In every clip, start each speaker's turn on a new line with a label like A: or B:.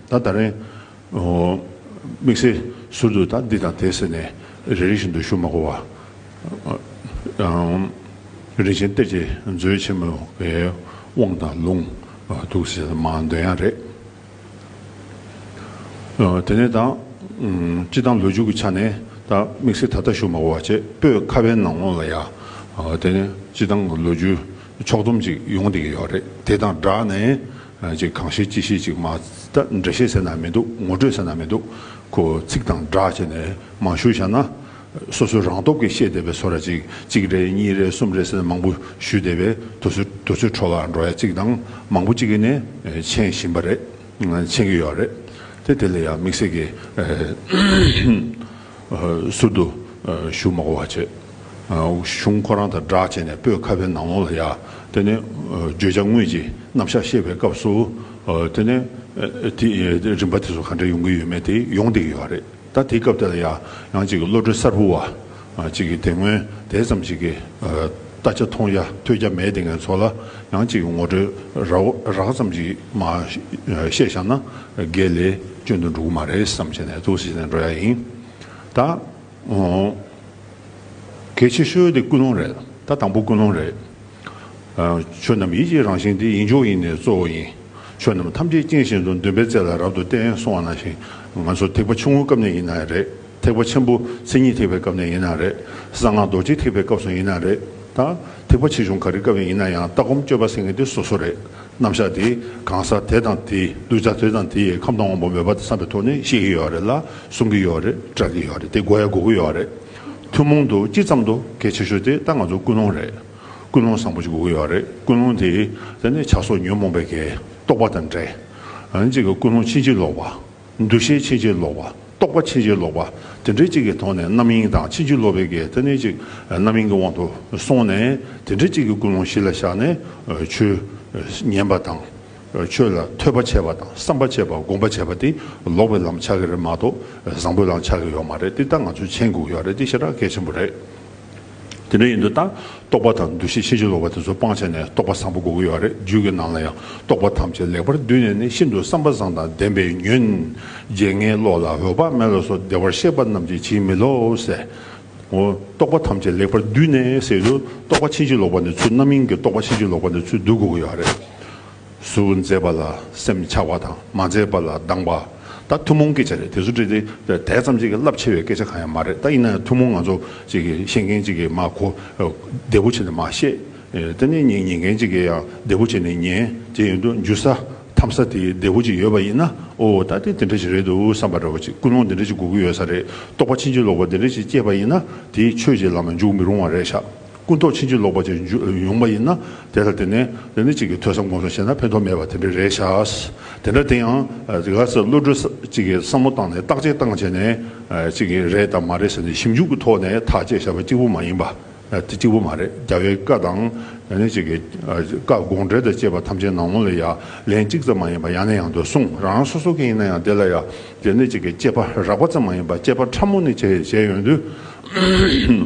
A: ད་ད་རེང། དམིགས་བསལ་ཟུར་དུ་ད་འདི་དང་དེ་ཟེར་ནས་རེ་རེ་བཞིན་དུ་ཞུ་མ་གོ་བར། རིན་ཆེན་གཏེར་གྱི་མཛོད་ཆེན་མོའི་དབང་དང་ལུང་དུག་ཟེར་ས་མང་དོན་ཡང་རེད། དེ་ནས་ད། སྤྱི་དང་ལོ་རྒྱུས་ཀྱི་ཆ་ནས་ད་དམིགས་བསལ་ད་ལྟ་ཞུ་མ་གོ་བར་བྱེད་པོས་ཁ་བའི་ནང་ལོགས་ལ་ཡ། དེ་ནས་སྤྱི་དང་ལོ་རྒྱུས་ཕྱོགས་བསྡོམས་ཅིག་ཡོང་བསྡད་ཀྱི་ཡོད་རེད་དེ་དང་སྦྲགས་ནས། ཅིག་གང་ཤེས་ཅི་ཤེས་ཅིག་མ་ད་འདྲེ་ཤེས་ཟེར་ན་མི་འདུག་ངོ་སྤྲོད་ཟེར་ན་མི་འདུག་གོ་ཚིག་དང་སྒྲག་བྱས་ནས་མ་ཞུ་བྱ་ན། སོ་སོའི་རང་སྟོབས་ཀྱིས་ཤེས་བསྡད་པའི་ཚོ་ར་ཅིག་གཅིག་རེ་གཉིས་རེ་གསུམ་རེ་ཟེར་ན་མང་པོ་ཞུས་བསྡད་པས་དུ་ཚོད་དུ་ཚོད་འཕྲོ་བར་འགྲོ་ཡ་ཅིག་དང་མང་པོ་ཅིག་གིས་ནས་མཆན་བཞིན་པ་རེད་མཆན་གྱི་ཡོད་རེད་དེ་དེ་ལ་ཡང་དམིགས་བསལ་གྱིས་ཟུར་དུ་ཞུ་མ་གོ་བ་བྱེད། གཞུང་ཁོ་རང་དང་སྦྲགས་བྱས་ནས་སྤོས་ཁ་བའི་ནང་ལོང་ལ་ཡར། དེ་ནས་བརྗོད་བྱ་དངོས་ཀྱི་རྣམ་གཞག་བཤད་པའི་སྐབས་སུ། དེ་ནས། དེའི་རིམ་པ་དེ་ཚོ་ག་འདྲ་ཡོང་གི་ཡོད་མེད་དེ་ཡོང་བསྡད་ཀྱི་ཡོད་རེད་ད། དེའི་སྐབས་དེ་ལ་ཡང་ཡང་གཅིག་བློ་གྲོས་གསར་བུ་བ་གཅིག་གིས་དེ་སྔོན་དེ་ཙམ་ཞིག་གི་ལྟ་ཆ་མཐོང་རྒྱ་ཐོས་རྒྱ་མེད་བསྡད་མཁན་ཚོ་ལ་ཡང་གཅིག་ངོ་སྤྲོད་རགས་ཙམ་ཞིག་མ་བཤད་བཞག་ན་འགས་ལས་སྐྱོན་དུ་འགྲོ་གི་མ་རེད་བསམ་བྱས་ནས་ཐུགས་གཟིགས་བྱས་ནས་འགྲོ་ཡག་ཡིན་ད། གལ་ཆེ་ཤོས་དེ་ཀུན་སློང་རེད་ད་དང་པོ་ཀུན་སློང་རེད། ཆོས་རྣམས་ཡིད་ཀྱི་རང་བཞིན་ཏེ་ཡིན་མཆོག་ཡིན་ནི་གཙོ་བོ་ཡིན། ཆོས་རྣམས་ཐམས་ཅད་རྐྱེན་བཞིན་དུ་འདུན་པའི་རྩལ་ལ་རབ་ཏུ་བརྟེན་སོང་བ་ན་ཞིང་ང་ཚོ་ཐེག་པ་ཆུང་ངུའི་སྐབས་ནས་ཡིན་ན་རེད་ཐེག་པ་ཆེན་པོ་མཚན་ཉིད་ཐེག་པའི་སྐབས་ནས་ཡིན་ན་རེད་གསང་སྔགས་རྡོ་རྗེ་ཐེག་པའི་སྐབས་སུ་ཡིན་ན་རེད་ད་ཐེག་པ་ཆེ་ཆུང་ག་རེའི་སྐབས་ཡིན་ན་ཡང་ལྟ་སྒོམ་སྤྱོད་པ་སེང་གེ་འདི་སོ་སོ་རེད། རྣམ་གཞག་དེ་གང་ཟག་དེ་དང་དེའི་གདུལ་བྱ་དེ་དང་དེ་ཡི་ཁམས་དང་དབང་པོ་མོས་པ་དེ་བསམ་པའི་ཐོག་ནས་ཤེས་ཀྱི་ཡོད་རེད་ལ་གསུང་གི་ཡོད་རེད་སྐྲག་གི་ཡོད་རེད་དེ་གོ་ཡ་གོ་གི་ཡོད་རེད། ཐུན་མོང་དུ་སྤྱི་ཙམ་དུ་གལ་ཆེ་ཤོས་དེ་ད་ང་ཚོ་ཀུན་སློང་རེད། ཀུན་སློང་བཟང་པོ་ཞིག་གོ་གི་ཡོད་རེད་ཀུན་སློང་དེ་དེ་ནི་བྱ་སོགས་ཉོན་མོངས་པའི་གེགས་རྟོགས་པ་དང་འབྲེལ། གཅིག་གི་ཀུན་སློང་ཕྱིན་ཅི་ལོག་པ། འདུ་ཤེས་ཕྱིན་ཅི་ལོག་པ། རྟོག་པ་ཕྱིན་ཅི་ལོག་པ། དེ་འདྲའི་གཅིག་གི་ཐོག་ནས་རྣམ་གཡེང་དང་ཕྱིན་ཅི་ལོག་པའི་གེགས་དེ་ནི་གཅིག་རྣམ་གཡེང་གི་དབང་དུ་སོང་ནས་དེ་འདྲའི་གཅིག་གི་ཀུན་སློང་གཞི་ལ་བཞག་ནས་ཆོས་ཉན་པ་དང། ཆོས་ལ་ཐོས་པ་བྱས་པ་དང་བསམ་པ་བྱས་པ་སྒོམ་པ་བྱས་པ་དེ་ལོག་པའི་ལམ་ཆགས་ཀྱི་རེད་མ་གཏོགས་བཟང་པོའི་ལམ་ཆགས་ཀྱི་ཡོད་མ་རེད་དེ་ལྟར་ང་ཚོས་མཆན་འགུགས་ཡོད་རེད་དེ་ཤེས་ར་གལ་ཆེན་པོ་རེད། དེ་འདྲ་ཡིན་དུ་ལྟ། རྟོག་པ་དང་འདུ་ཤེས་ཤེས་བྱ་སློབ་པ་དེ་ཚོ་སྤང་བྱས་ནས་རྟོག་པ་བཟང་པོ་དགོས་ཀྱི་ཡོད་རེད་རྒྱུད་ཀྱི་ནང་ལ་ཡང་རྟོག་པ་ཐམས་ཅད་ལེགས་པར་བསྡུས་ནས་ནི་ཤིན་ཏུ་བསམ་པ་བཟང་དང་ལྡན་པའི་ཉོན། བརྗེད་ངའི་བློ་ལ་འོད་དཔག་མེད་ལ་སོགས་བདེ་བར་གཤེགས་པ་རྣམས་ཀྱིས་བྱིན་མི་ལོ་ཟེར། ངོ། རྟོག་པ་ཐམས་ཅད་ལེགས་པར་བསྡུས་ནས་ཟེར་དུས་རྟོག་པ་ཕྱིན་ཅི་ལོག་པ་ནི་ཚུལ་རྣམ་མིན་གྱི་རྟོག་པ་ཕྱིན་ཅི་ལོག་པ་ནི་ཚུལ་བསྡུ་དགོས་ཀྱི་ཡོད་རེད། སུ་མཛད་པ་ལ་སེམས་འཆའ་བ་དང་མ་མཛད་པ་ལ་སྡང་བ་ད་ཐུན་མོང་སྐད་ཆ་རེད་དེ་ཚོ་བྲིས་ཏེ་དེ་ཙམ་གྱིས་རླབས་ཆེ་བའི་སྐད་ཆ་གང་ཡང་མ་རེད་ད་ཡིན་ན་ཡང་ཐུན་མོང་ང་ཚོ་ཅིག་གིས་ཤེས་མཁན་ཅིག་གིས་མ་གོ་བདེ་པོ་བྱས་ནས་མ་བཤད་དེ་ནས་ཉན་མཁན་ཅིག་གིས་ཡང་བདེ་པོ་བྱས་ནས་ཉན་དེ་ཡིན་དུས་འཇུ་ས་འཐམ་ས་དེ་བདེ་བོ་ཅིག་ཡོད་པ་ཡིན་ན་ཨོ་ད་དེ་དེ་འདྲ་ཞིག་རེད་འདུག་བསམ་པ་འདྲ་བོ་ཅིག་ཀུན་སློང་དེ་འདྲ་ཞིག་དགོས་ཀྱི་ཡོད་ས་རེད་རྟོགས་པ་ཕྱིན་ཅི་ལོག་པ་དེ་འདྲ་ཞིག་སྐྱེས་པ་ཡིན་ན་དེས་ཆོས་ཀྱི་ལམ་ལ་འཇུག་མི་རུང་བ་རེད་ཤག། ཀུན་རྟོག་ཕྱིན་ཅི་ལོག་པ་བཅས་ཉུང་མ་ཡིན་ན་དེ་ལྟར་དེ་ནས་རེ་ནས་ཅིག་གིས་ཐོས་བསམ་སྒོམ་བཟང་བྱས་ན་ཕན་ཐོགས་མེད་པ་དེ་འདྲ་རེད་ཤག། དེ་འདྲ་དེ་ཡང་རེ་ག་ས་བློ་གྲོས་ཅིག་གིས་བསམ་བློ་བཏང་ནས་བརྟག་དཔྱད་བཏང་བྱས་ནས་ཅིག་གིས་རེད་དམ་མ་རེད་ཟེར་ནས་ཞིབ་འཇུག་གི་ཐོག་ནས་ཐག་བཅད་བྱས་པ་གཅིག་པུ་མ་ཡིན་པ། དེ་གཅིག་པུ་མ་རེད་རྒྱ་བོད་བཀའ་དང་ཡང་ན་ཅིག་གིས་བཀའ་དགོངས་འགྲེལ་དང་བཅས་པ་ཐམས་ཅད་ནང་ངོ་ལ་ཡ་ལན་གཅིག་ཙམ་མ་ཡིན་པ་ཡང་ན་ཡང་དུ་གསུངས་རང་རང་སོ་སོ་གི་ཡིན་ན་ཡང་དེ་ལ་ཡ་དེ་ནས་ཅིག་གིས་དཔྱད་པ་རགས་པ་ཙམ་མ་ཡིན་པ་དཔྱད་པ་ཕྲ་མོ་ནས་བྱས་ཡོང་དུས།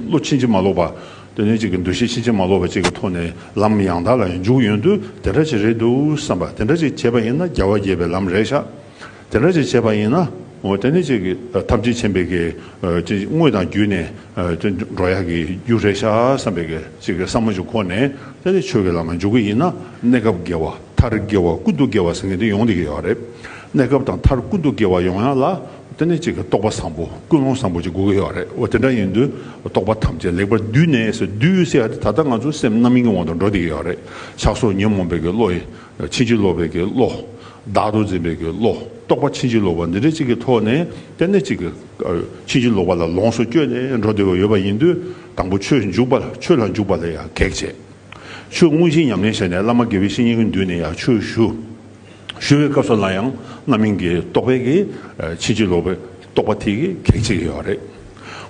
A: བློ་ཕྱིན་ཅི་མ་ལོག་པ། དོན་གཉེར་གཅིག་གི་འདུ་ཤེས་ཕྱིན་ཅི་མ་ལོག་པ་བཅས་ཀྱི་ཐོག་ནས་ལམ་ཡང་དག་ལ་འཇུག་ཡོང་དུས་དེ་འདྲ་ཅིག་རེད་འདུག་བསམ་པ་དེ་འདྲ་ཅིག་བྱས་པ་ཡིན་ན་རྒྱལ་བ་དགྱེས་པའི་ལམ་རེད་ཤག་དེ་འདྲ་ཅིག་བྱས་པ་ཡིན་ན། དོན་གཉེར་གཅིག་ཐམས་ཅད་མཁྱེན་པའི་དངོས་དང་བརྒྱུད་ནས་འགྲོ་ཡག་གི་རྒྱུ་རེད་ཤག་བསམ་པའི་ཅིག་བསམ་བློ་ཅིག་ཁོ་ནས་དེ་འདྲ་ཆོས་ཀྱི་ལམ་ལ་འཇུག་གི་ཡིན་ན་གནས་སྐབས་དགེ་བ་མཐར་དགེ་བ་ཀུན་ཏུ་དགེ་བ་ཟེར་མཁན་དེ་ཡོང་དེ་གི་ཡོག་རེད་གནས་སྐབས་དང་མཐར་ཀུན་ཏུ་དགེ་བ་ཡོང་ཡག་ལ་དེ་ནི་གཅིག་གི་རྟོགས་པ་བཟང་པོ་ཀུན་སློང་བཟང་པོ་ཅིག་དགོས་ཀྱི་ཡོད་རེད་འོ་དེ་འདྲ་ཡིན་དུས་རྟོགས་པ་ཐམས་ཅད་ལེགས་པར་བསྡུས་ནས་ཟེར་བསྡུས་ཡོད་ཟེར་ཡ་དེ་ད་ལྟ་ང་ཚོ་སེམས་རྣམ་སྨིན་གྱི་དབང་དུ་འགྲོ་བསྡད་ཀྱི་ཡོད་རེད་ཆགས་སོགས་ཉོན་མོངས་པའི་གི་བློ། ཕྱིན་ཅི་ལོག་པའི་གི་བློ། བདག་ཏུ་འཛིན་པའི་གི་བློ་རྟོགས་པ་ཕྱིན་ཅི་ལོག་པ་འདི་འདྲ་གཅིག་གི་ཐོག་ནས་དེ་ནི་གཅིག་གི། ཕྱིན་ཅི་ལོག་པ་ལ་ལོངས་སུ་སྤྱོད་ནས་འགྲོ་བསྡད་པ་ཡོད་པ་ཡིན་དུས་དང་པོ་ཆོས་འཇུག་པ་ཆོས་ལ་འཇུག་པ་ལ་ཡང་གེགས་བྱེད། ཆོས་དངོས་གཞི་ཉམས་ལེན་བྱས་ནས་བླ་མ་དགེ་བའི་བཤེས་གཉེན་གྱི་མདུན་ནས་ཡང་ཆོས་ཞུ། ཞུ་བའི་སྐབས་སུ་ལ་ཡང་རྣམ་སྨིན་གྱི་རྟོག་པའི་གི་ཕྱིན་ཅི་ལོག་པའི་རྟོག་པ་དེ་གི་གེགས་བྱེད་ཀྱི་ཡོད་རེད།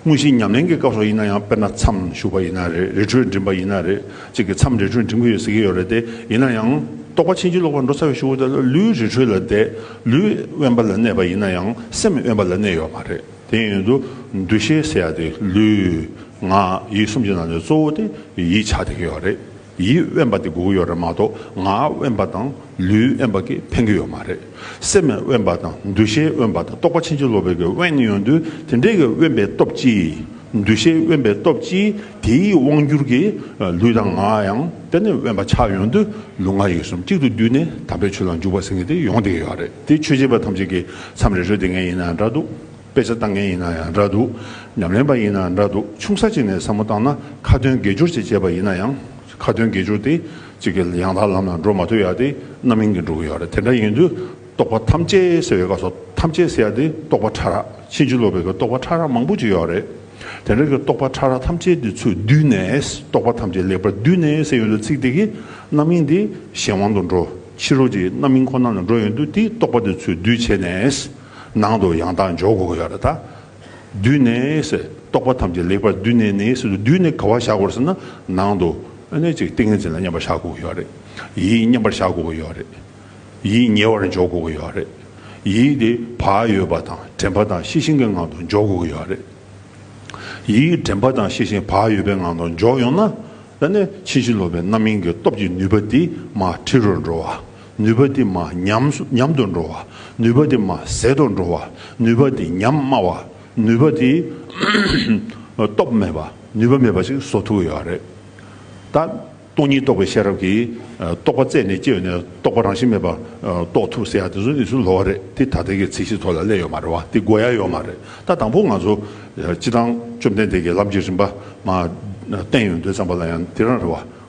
A: དངོས་གཞི་ཉམས་ལེན་གྱི་སྐབས་སུ་ཡིན་ན་ཡང་དཔེར་ན་མཚམས་ཞུགས་པ་ཡིན་ན་རེད་རི་ཁྲོད་འགྲིམས་པ་ཡིན་ན་རེད་ཅིག་གི་མཚམས་རི་ཁྲོད་འགྲིམས་ཀྱི་ཡོད་ཟེར་གྱི་ཡོད་རེད་དེ་ཡིན་ན་ཡང་རྟོག་པ་ཕྱིན་ཅི་ལོག་པར་འགྲོ་ཚར་བའི་ཞུ་བ་དེ་ལུས་རི་ཁྲོད་ལ་བསྡད་ལུས་དབེན་པ་ལ་གནས་པ་ཡིན་ན་ཡང་སེམས་དབེན་པ་ལ་གནས་ཡོད་མ་རེད་དེ་ཡིན་དུ་འདུ་ཤེས་ཟེར་ཡག་དེ་ལུས། ངག། ཡིད་གསུམ་གྱི་ནང་ནས་གཙོ་བོ་དེ་ཡིད་ཆགས་བསྡད་ཀྱི་ཡོད་རེད། ཡིད་དབེན་པ་དེ་སྒུག་ཡོད་རེད་མ་གཏོགས་ངག་དབེན་པ་དང་ལུས་དབེན་པ་གིས་ཕན་གི་ཡོད་མ་རེད། སེམས་དབེན་པ་དང་འདུ་ཤེས་དབེན་པ་དང་རྟོག་པ་ཕྱིན་ཅི་ལོག་པའི་གི་དབེན་ཡོད་དུས་དེ་འདྲའི་གི་དབེན་པའི་སྟོབས་ཀྱིས་འདུ་ཤེས་དབེན་པའི་སྟོབས་ཀྱིས་དེའི་དབང་བསྒྱུར་གྱིས་ལུས་དང་ངག་ཡང་དེ་ནས་དབེན་པ་ཆགས་ཡོང་དུས་ལུས་ངག་ཡིད་གསུམ་གཅིག་ཏུ་བསྡུས་ནས་དམ་པའི་ཆོས་ལ་འཇུག་པ་ཟེར་མཁན་དེ་ཡོང་དེ་གི་ཡོད་རེད་དེ་ཆོས་བྱེད་པ་ཐམས་ཅད་ཀྱི་མཚམས་རེ་རེ་དེ་ངས་ཡིན་ན་འདྲ་འདུག། དཔེ་ཆ་བཏང་མཁན་ཡིན་ན་ཡང་འདྲ་འདུག་ཉམས་ལེན་པ་ཡིན་ན་ཡང་འདྲ་འདུག་ཆུང་ས་ཅིག་ནས་བསམ་བློ་བཏང་ན་ཁ་ཏོན་དགེ་སྦྱོར་ཅིག་བྱས་པ་ཡིན་ན་ཡང་ཁ་ཏོན་དགེ་སྦྱོར་དེ་ཅིག་གི་ཡང་དག་ལམ་ལ་འགྲོ་མ་ཐུབ་ཡག་དེ་རྣམ་གཡེང་གིས་འགྲོ་གི་ཡོད་རེད་དེ་འདྲ་ཡིན་དུས་རྟོག་པ་ཐམས་ཅད་སེལ་བའི་སྐབས་སུ་ཐམས་ཅད་སེལ་ཡག་དེ་རྟོག་པ་ཕྲ་རགས་ཕྱིན་ཅི་ལོག་པའི་གི་རྟོག་པ་ཕྲ་རགས་མང་པོ་ཅིག་ཡོད་རེད་དེ་འདྲ་གི་རྟོག་པ་ཕྲ་རགས་ཐམས་ཅད་དེ་ཚོས་བསྡུས་ནས་རྟོག་པ་ཐམས་ཅད་ལེགས་པར་བསྡུས་ནས་སེལ་ཡོང་དུས་ཚིག་དེ་གི་རྣམ་གཡེང་དེ་གཞན་དབང་དུ་འགྲོ་ཕྱི་རོལ་གྱི་རྣམ་གཡེང་ཁོ་ན་ལ་འགྲོ་ཡོང་དུས་དེའི་རྟོག་པ་དེ་ཚོས་བསྡུས་བྱས་ནས། ནང་དུ་ཡང་དག་འཇོག་དགོས་ཀྱི་ཡོད་ལ། བསྡུས་ནས་ཟེར། རྟོག་པ་ཐམས་ཅད་ལེགས་པར་བསྡུས་ནས་ནི་ཟེར། བསྡུས་ནས་ག་བ་བཞག་དགོས་ཟེར་ན། ནང་དུ་ཨེ་ཅིག་ཏིང་ངེ་འཛིན་ལ་མཉམ་པར་བཞག་དགོས་ཀྱི་ཡོད་རེད། ཡིད་མཉམ་པར་བཞག་དགོས་ཀྱི་ཡོད་རེད། ཡིད་ཉེ་བར་འཇོག་དགོས་ཀྱི་ཡོད་རེད། ཡིད་དེ་བག་ཡོད་པ་དང་དྲན་པ་དང་ཤེས་བཞིན་གྱི་ངང་དུ་འཇོག་དགོས་ཀྱི་ཡོད་རེད། ཡིད་དྲན་པ་དང་ཤེས་བཞིན་བག་ཡོད་པའི་ངང་དུ་འཇོག་ཡོང་ན། ཕྱིན་ཅི་ལོག་པའི་རྣམ་སྨིན་གྱི་སྟོབས་ཀྱིས་ནུས་པ་དེ་མ་འཁྲིལ་རུ་འགྲོ་བ་ནུས་པ་དེ་མ་ཉམས་དུ་འགྲོ་བ། ནུས་པ་དེ་མ་ཟད་དུ་འགྲོ་བ། ནུས་པ་དེ་ཉམས་དམའ་བ། ནུས་པ་དེ་སྟོབས་མེད་པ། ནུས་པ་མེད་པ་ཞིག་བཟོ་ཐུབ་ཀྱི་ཡོད་རེད། ད། སྟོང་ཉིད་རྟོགས་པའི་ཤེས་རབ་ཀྱིས་རྟོག་པ་རྩད་ནས་གཅོད་ནས་རྟོག་པ་རང་བཞིན་མེད་པ་རྟོགས་ཐུབ་ཟེར་ཡ་དེ་ཚོ་ནི་ཚུར་ལོག་རེད་དེ་ད་ལྟའི་གི་ཚིག་བཞི་ཐོག་ལ་གླས་ཡོད་མ་རེད་བ་དེ་གོ་ཡ་ཡོད་མ་རེད་ད་དང་པོ་ང་ཚོ་སྤྱི་བཏང་བཅོམ་ལྡན་འདས་ཀྱི་ལམ་གྱི་རིམ་པ་མ་བསྟན་ཡོད་འདོད་ཙམ་པ་ལ་ཡང་དེ་རང་རེད་བ།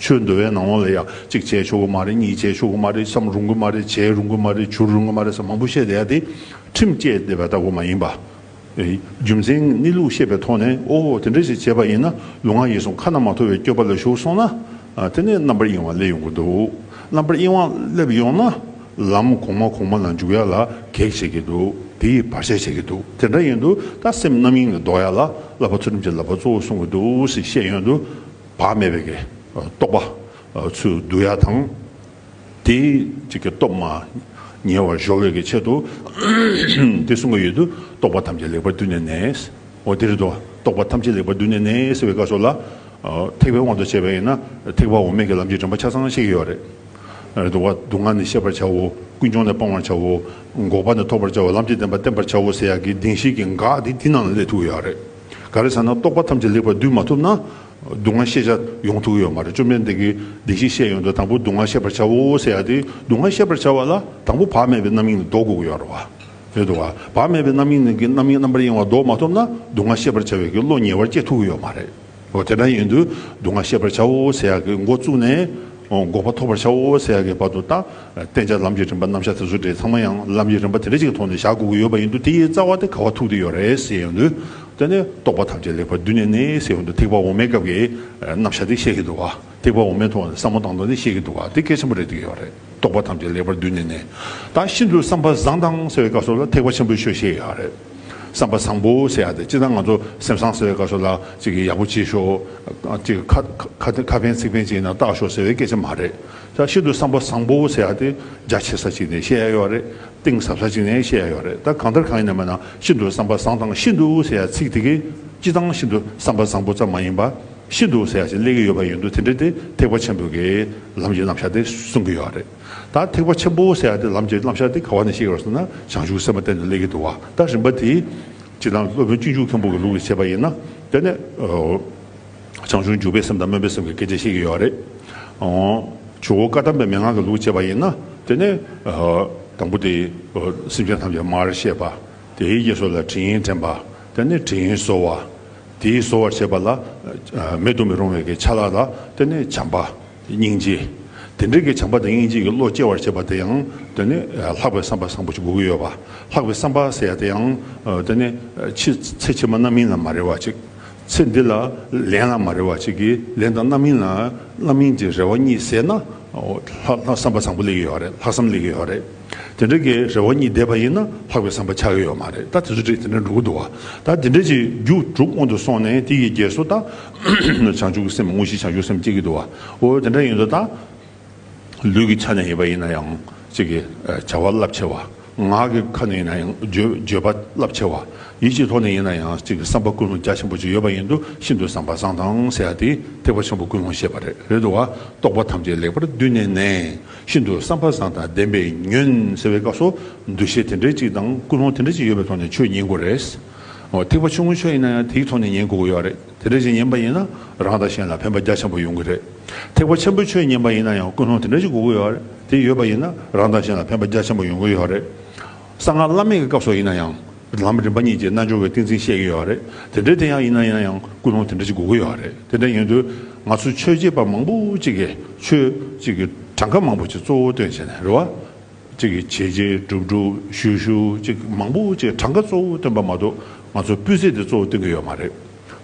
A: ཆོས་འདུལ་བའི་ནང་ལ་ཡང་གཅིག་བྱས་ཆོག་གི་མ་རེད་གཉིས་བྱས་ཆོག་གི་མ་རེད་བསམ་རུང་གི་མ་རེད་བྱས་རུང་གི་མ་རེད་བྱུར་རུང་གི་མ་རེད་ས་མང་པོ་བཤད་བསྡད་ཡ་དེ་ཁྲིམས་བཅས་བསྡད་པ་ལྟ་བུ་མ་ཡིན་པ། རྒྱུ་མཚན་གནས་ལུགས་ཤེས་པའི་ཐོག་ནས་ཨོ་དེ་འདྲ་ཞིག་བྱས་པ་ཡིན་ན་ལུས་ངག་ཡིད་གསུམ་ཁ་ན་མ་ཐོ་བའི་སྐྱོ་པ་ལ་ཞུགས་སོང་ན་དེ་ནས་རྣམ་པར་གཡེང་བ་སླེབས་ཡོང་གི་འདུག་རྣམ་པར་གཡེང་བ་སླེབས་ཡོང་ན་ལམ་གོང་མ་གོང་མ་ལ་འཇུག་ཡ་ལ་གེགས་བྱེད་ཀྱི་འདུག་དེ་ཡིས་བར་ཆད་བྱེད་ཀྱི་འདུག་དེ་འདྲ་ཡིན་དུས་ད་སེམས་རྣམ་གཡེང་ལས་ལྡོག་ཡ་ལ་བསླབ་པ་ཚུལ་ཁྲིམས་ཀྱི་བསླབ་པ་གཙོ་བོ་གསུང་གི་འདུག་ཞེས་བཤད་ཡོང་དུས། བག་མེད་པའི་རྟོག་པ་ཚུལ་བསྡུ་ཡ་དང། དེའི་སྟོབས་མ་ཉེ་བར་གཞོག་བའི་ཆེད་དུ་དེ་གསུང་གི་ཡོད་དུ་རྟོག་པ་ཐམས་ཅད་ལེགས་པར་བསྡུས་ནས་ནས། འོ་དེ་རེད་དོ་རྟོག་པ་ཐམས་ཅད་ལེགས་པར་བསྡུས་ནས་ནས་ཟེར་བའི་བཀའ་སོགས་ལ། ཐེག་པའི་དབང་དུ་བྱས་པ་ཡིན་ན་ཐེག་པ་འོ་མས་ཀྱི་ལམ་གྱི་དྲན་པ་ཆ་ཚང་ཤེས་ཀྱི་ཡོད་རེད། འདུག་བ་སྡུག་བསྔལ་ནི་ཤེས་པར་བྱའོ་ཀུན་འབྱུང་ནི་སྤང་བར་བྱའོ། འགོག་པ་ནི་ཐོབ་པར་བྱའོ་ལམ་གྱི་བདེན་པ་བསྟན་པར་བྱའོ་ཟེར་ཡག་གི་གདིང་ཤེས་ཀྱི་འགག་དེ་དེ་རྣམས་ལ་སླེབས་ཐུག་གི་ཡོད་རེད། ག་རེ་ཟེར་ན་རྟོག་པ་ཐམས་ཅད་ལེགས་པར་བསྡུས་མ་ཐུབ་ན། སྡུག་བསྔལ་ཤེས་བྱ་ཡོང་ཐུག་གི་ཡོད་མ་རེད་བཅོམ་ལྡན་འདས་ཀྱིས་བདེ་གཤེགས་བཤད་ཡོད་འདུག་དང་པོ་སྡུག་བསྔལ་ཤེས་པར་བྱའོ་ཟེར་ཡ་དེ་སྡུག་བསྔལ་ཤེས་པར་བྱ་བ་ལ་དང་པོ་བག་མེད་པའི་རྣམ་གཡེང་ནི་ལྡོག་དགོས་ཀྱི་ཡོད་རེད་དོ། བག་མེད་པའི་རྣམ་གཡེང་ནི་རྣམ་གཡེང་རྣམ་པར་གཡེང་བ་ལྡོག་མ་ཐུབ་ན་སྡུག་བསྔལ་ཤེས་པར་བྱ་བའི་ཀྱི་བློ་ཉེ་བར་སྐྱེ་ཐུག་གི་ཡོད་མ་རེད། དེ་འདྲ་ཡིན་དུས་སྡུག་བསྔལ་ཤེས་པར་བྱའོ་ཟེར་ཡ་ཀྱི་མགོ་བཙུགས་ནས། འགོག་པ་ཐོབ་པར་བྱའོ་ཟེར་ཡ་ཀྱི་བར་དུ་ལྟ། བསྟན་བྱ་ལམ་གྱི་རིམ་པ་རྣམ་གཞག་དེ་ཚོ་དེ་ཚང་མ་ཡང་ལམ་གྱི་རིམ་པ་དེ་འདྲ་ཅིག་གི་ཐོག་ནས་བཞག་དགོས་ཀྱི་ཡོད་པ་ཡིན་འདུག་དེའི་རྩ་བ་དེ་ག་བ་ཐུག་དེ་ཡོད་རེད་ཟེར་ཡོང་དུས། དེ་ནི་རྟོགས་པ་ཐམས་ཅད་ལེགས་པར་བསྡུས་ནས་ནི་ཟེར་ཡོང་དུས་ཐེག་པ་འོག་མའི་སྐབས་ཀྱི་རྣམ་གཞག་དེ་བཤད་ཀྱི་འདུག་ག་ཐེག་པ་འོག་མའི་ཐོག་ནས་བསམ་བློ་བཏང་དོན་དེ་བཤད་ཀྱི་འདུག་ག་དེ་གལ་ཆེན་པོ་རེད་འདོད་ཀྱི་ཡོད་རེད་རྟོགས་པ་ཐམས་ཅད་ལེགས་པར་བསྡུས་ནས་ནི། ད་ཤིན་ཏུ་བསམ་པ་བཟང་དང་ཟེར་བའི་སྐབས་སོགས་ལ་ཐེག་པ་ཆེན་པོའི་ཆོས་བཤད་ཀྱི་ཡོད་རེད། བསམ་པ་བཟང་པོ་ཟེར་ཡག་དེ་ཅི་ལྟར་ང་ཚོ་སེམས་བཟང་ཟེར་བའི་སྐབས་སོགས་ལ་ཅིག་ཡག་པོ་བྱེད་ཤོག་ཅིག་ཁ་ཕན་ཚིག་ཕན་བྱས་ན་བརྟག་ཤོག་ཟེར་བའི་སྐད་ཆ་མ་རེད། ད་ཤིན་ཏུ་བསམ་པ་བཟང་པོ་ཟེར་ཡག་དེ་རྒྱ་ཆེ་ས་ཅིག་ནས་བཤད་ཡག་ཡོད་རེད་གཏིང་ཟབ་ས་ཅིག་ནས་བཤད་ཡག་ཡོད་རེད་ད་གང་ལྟར་གང་ཡིན་ནམ་ཡང་ཤིན་ཏུ་བསམ་པ་བཟང་དང་ཤིན་ཏུ་ཟེར་ཡག་ཚིག་དེ་གས་སྤྱི་བཏང་ཤིན་ཏུ་བསམ་པ་བཟང་པོ་ཙམ་མ་ཡིན་པ་ཤིན་ཏུ་ཟེར་ཡག་ཅིག་གླེང་གི་ཡོད་པ་ཡིན་འདུག་དེ་འདྲ་དེ་ཐེག་པ་ཆེན་པོ་གའི་ལམ་གྱི་རྣམ་གཞག་དེ་གསུང་གི་ཡོད་རེད་ད་ཐེག་པ་ཆེན་པོ་ཟེར་ཡག་དེ་ལམ་གྱི་རྣམ་གཞག་དེ་ག་བ་ནས་བཤད་ཡོད་ཟེར་ན་བྱང་ཆུབ་སེམས་དཔའ་བསྟན་དུ་གླེང་གི་འདུག་བ་ད་རིམ་པ་དེ་སྤྱི་བཏང་སློབ་དཔོན་སྤྱི་འཇུག་མཁན་པོ་གི་ལུགས་ལས་བྱེད་པ་ཡིན་ན་དེ་ནས་བྱང་ཆུང་འཇུག་པའི་སེམས་དང་སྨོན་པའི་སེམས་ཀྱི་སྐད་ཆ་བཤད་ཀྱི་ཡོད་རེད། ཇོ་བོ་བཀའ་གདམས་པའི་མན་ངག་གི་ལུགས་འཆད་པ་ཡིན་ན་དེ་ནི། དང་པོ་དེ། སེམས་ཅན་ཐམས་ཅད་མར་བཤད་པ། དེའི་རྗེས་སོ་ལ་དྲི་ཡིན་དྲན་པ། དེ་ནི་དྲི་ཡིན་གསོལ་བ། དེའི་གསོལ་བར་བྱེད་པ་ལ། མེད་དུ་མི་རུང་བའི་གི་ཆ་ལ་ལ། དེ་ནི་བྱམས་པ། སྙིང་རྗེ། དེ་འདྲའི་གི་བྱམས་པ་དང་སྙིང་རྗེ་གི་བློ་སྐྱེ་བར་བྱེད་པ་དེ་ཡང། དེ་ནི། ལྷག་པའི་བསམ་པ་བཟང་པོ་ཞིག་དགོས་ཀྱི་ཡོད་པ། ལྷག་པའི་བསམ་པ་ཟེར་ཡ་དེ་ཡང། དེ་ནི། ཕྱི་ཚེ་ཕྱི་མ་རྣམ་སྨིན་ལ་མ་རེ་བ་ཅིག། ཚེ་འདི་ལ་ལན་ལ་མ་རེ་བ་གཅིག་གིས་ལན་དང་རྣམ་སྨིན་ལ་རྣམ་སྨིན་གྱི་རེ་བ་གཉིས་བསྲེས་ན། ལྷག་བསམ་པ་བཟང་པོ་ལེགས་ཀྱི་ཡོད་རེད་ལྷག་བསམ་ལེགས་ཀྱི་ཡོད་རེད། དེ་འདྲ་གི་རེ་བ་གཉིས་བསྡེབས་པ་ཡིན་ན་ལྷག་པའི་བསམ་པ་ཆགས་ཀྱི་ཡོད་མ་རེད་ད་དེ་ཚོ་དེ་འདྲ་འགྲོ་གི་འདུག་བ་ད་དེ་འདྲ་གྱི་རྒྱུ་དྲུག་སྔོན་དུ་སོང་ནས་དེ་ཡི་རྗེས་སུ་ད་བྱང་ཆུབ་ཀྱི་སེམས་དངོས་གཞི་བྱང་ཆུབ་སེམས་སྐྱེ་གི་འདུག་བ་འོ་དེ་འདྲ་ཡིན་དུ་ད། ལུས་ཀྱི་ཆ་ནས་ཡོད་པ་ཡིན་ན་ཡང་ཚིག་གི་བྱ་བ་རླབས་ཆེ་བ། ངག་གི་ཁ་ནས་ཡིན་ན་ཡང་བརྗོད་པ་རླབས་ཆེ་བ། ཡིད་ཀྱི་ཐོག་ནས་ཡིན་ན་ཡང་ཚིག་གི་བསམ་པ་ཀུན་སློང་རྒྱ་ཆེན་པོ་ཅིག་ཡོད་པ་ཡིན་དུ་ཤིན་ཏུ་བཟང་པ་བཟང་དང་ཟེར་ཡ་དེ་ཐེག་པ་ཆེན་པོ་ཀུན་སློང་ཤེས་པ་རེད་རེད་དོ་བ་རྟོགས་པ་ཐམས་ཅད་ལེགས་པར་བསྡུས་ནས་ནས་ཤིན་ཏུ་བསམ་པ་བཟང་དང་ལྡན་པའི་ཉོན་ཟེར་བའི་སྐབས་སུ་འདུ་ཤེས་དེ་འདྲའི་ཅིག་དང་ཀུན་སློང་དེ་འདྲའི་ཅིག་ཡོད་པའི་ཐོག་ནས་ཆོས་ཉན་དགོས་རེད། ཐེག་པ་ཆུང་ངུ་ཆོས་ཡིན་ན་ཡང་དེའི་ཐོག་ནས་ཉན་དགོས་ཀྱི་ཡོད་རེད། དེ་འདྲ་ཞིག་ཡིན་པ་ཡིན་ན་རང་དང་གཞན་ལ་ཕན་པ་རྒྱ་ཆེན་པོ་ཡོང་གི་རེད། ཐེག་པ་ཆེན་པོའི་ཆོས་ཉན་པ་ཡིན་ན་ཡང་ཀུན་སློང་དེ་འདྲ་ཞིག་དགོས་ཀྱི་ཡོད་རེད་དེ་ཡོད་པ་ཡིན་ན་རང་དང་གཞན་ལ་ཕན་པ་རྒྱ་ཆེན་པོ་ཡོང་གི་ཡོད་རེད། གསང་སྔགས་བླ་མེད་ཀྱི་སྐབས་སོགས་ཡིན་ན་ཡང་ལམ་རིམ་པ་གཉིས་ཀྱི་རྣལ་འབྱོར་བའི་ཏིང་འཛིན་བཤད་ཀྱི་ཡོད་རེད་དེ་འདྲའི་དེ་ཡང་ཡིན་ན་ཡིན་ཡང་ཀུན་སློང་དེ་འདྲ་ཞིག་དགོས་ཀྱི་ཡོད་རེད་དེ་འདྲ་ཡིན་དུས་ང་ཚོ་ཆོས་བྱེད་པ་མང་པོ་ཅིག་གིས་ཆོས་གཅིག་གི་གྲངས་ཀ་མང་པོ་ཅིག་གཙོ་བོ་སྟོན་བྱས་ནས་རེ་བ་གཅིག་གིས་བྱས་རྗེས་སྒྲུབ་སྒྲུབ་ཞུས་ཞུས་གཅིག་མང་པོ་བཅས་གྲངས་ཀ་གཙོ་བོ་བཏོན་པ་མ་གཏོགས་ང་ཚོ་སྤུས་ཚད་དེ་གཙོ་བོ་བཏོན་གི་ཡོད་མ་རེད།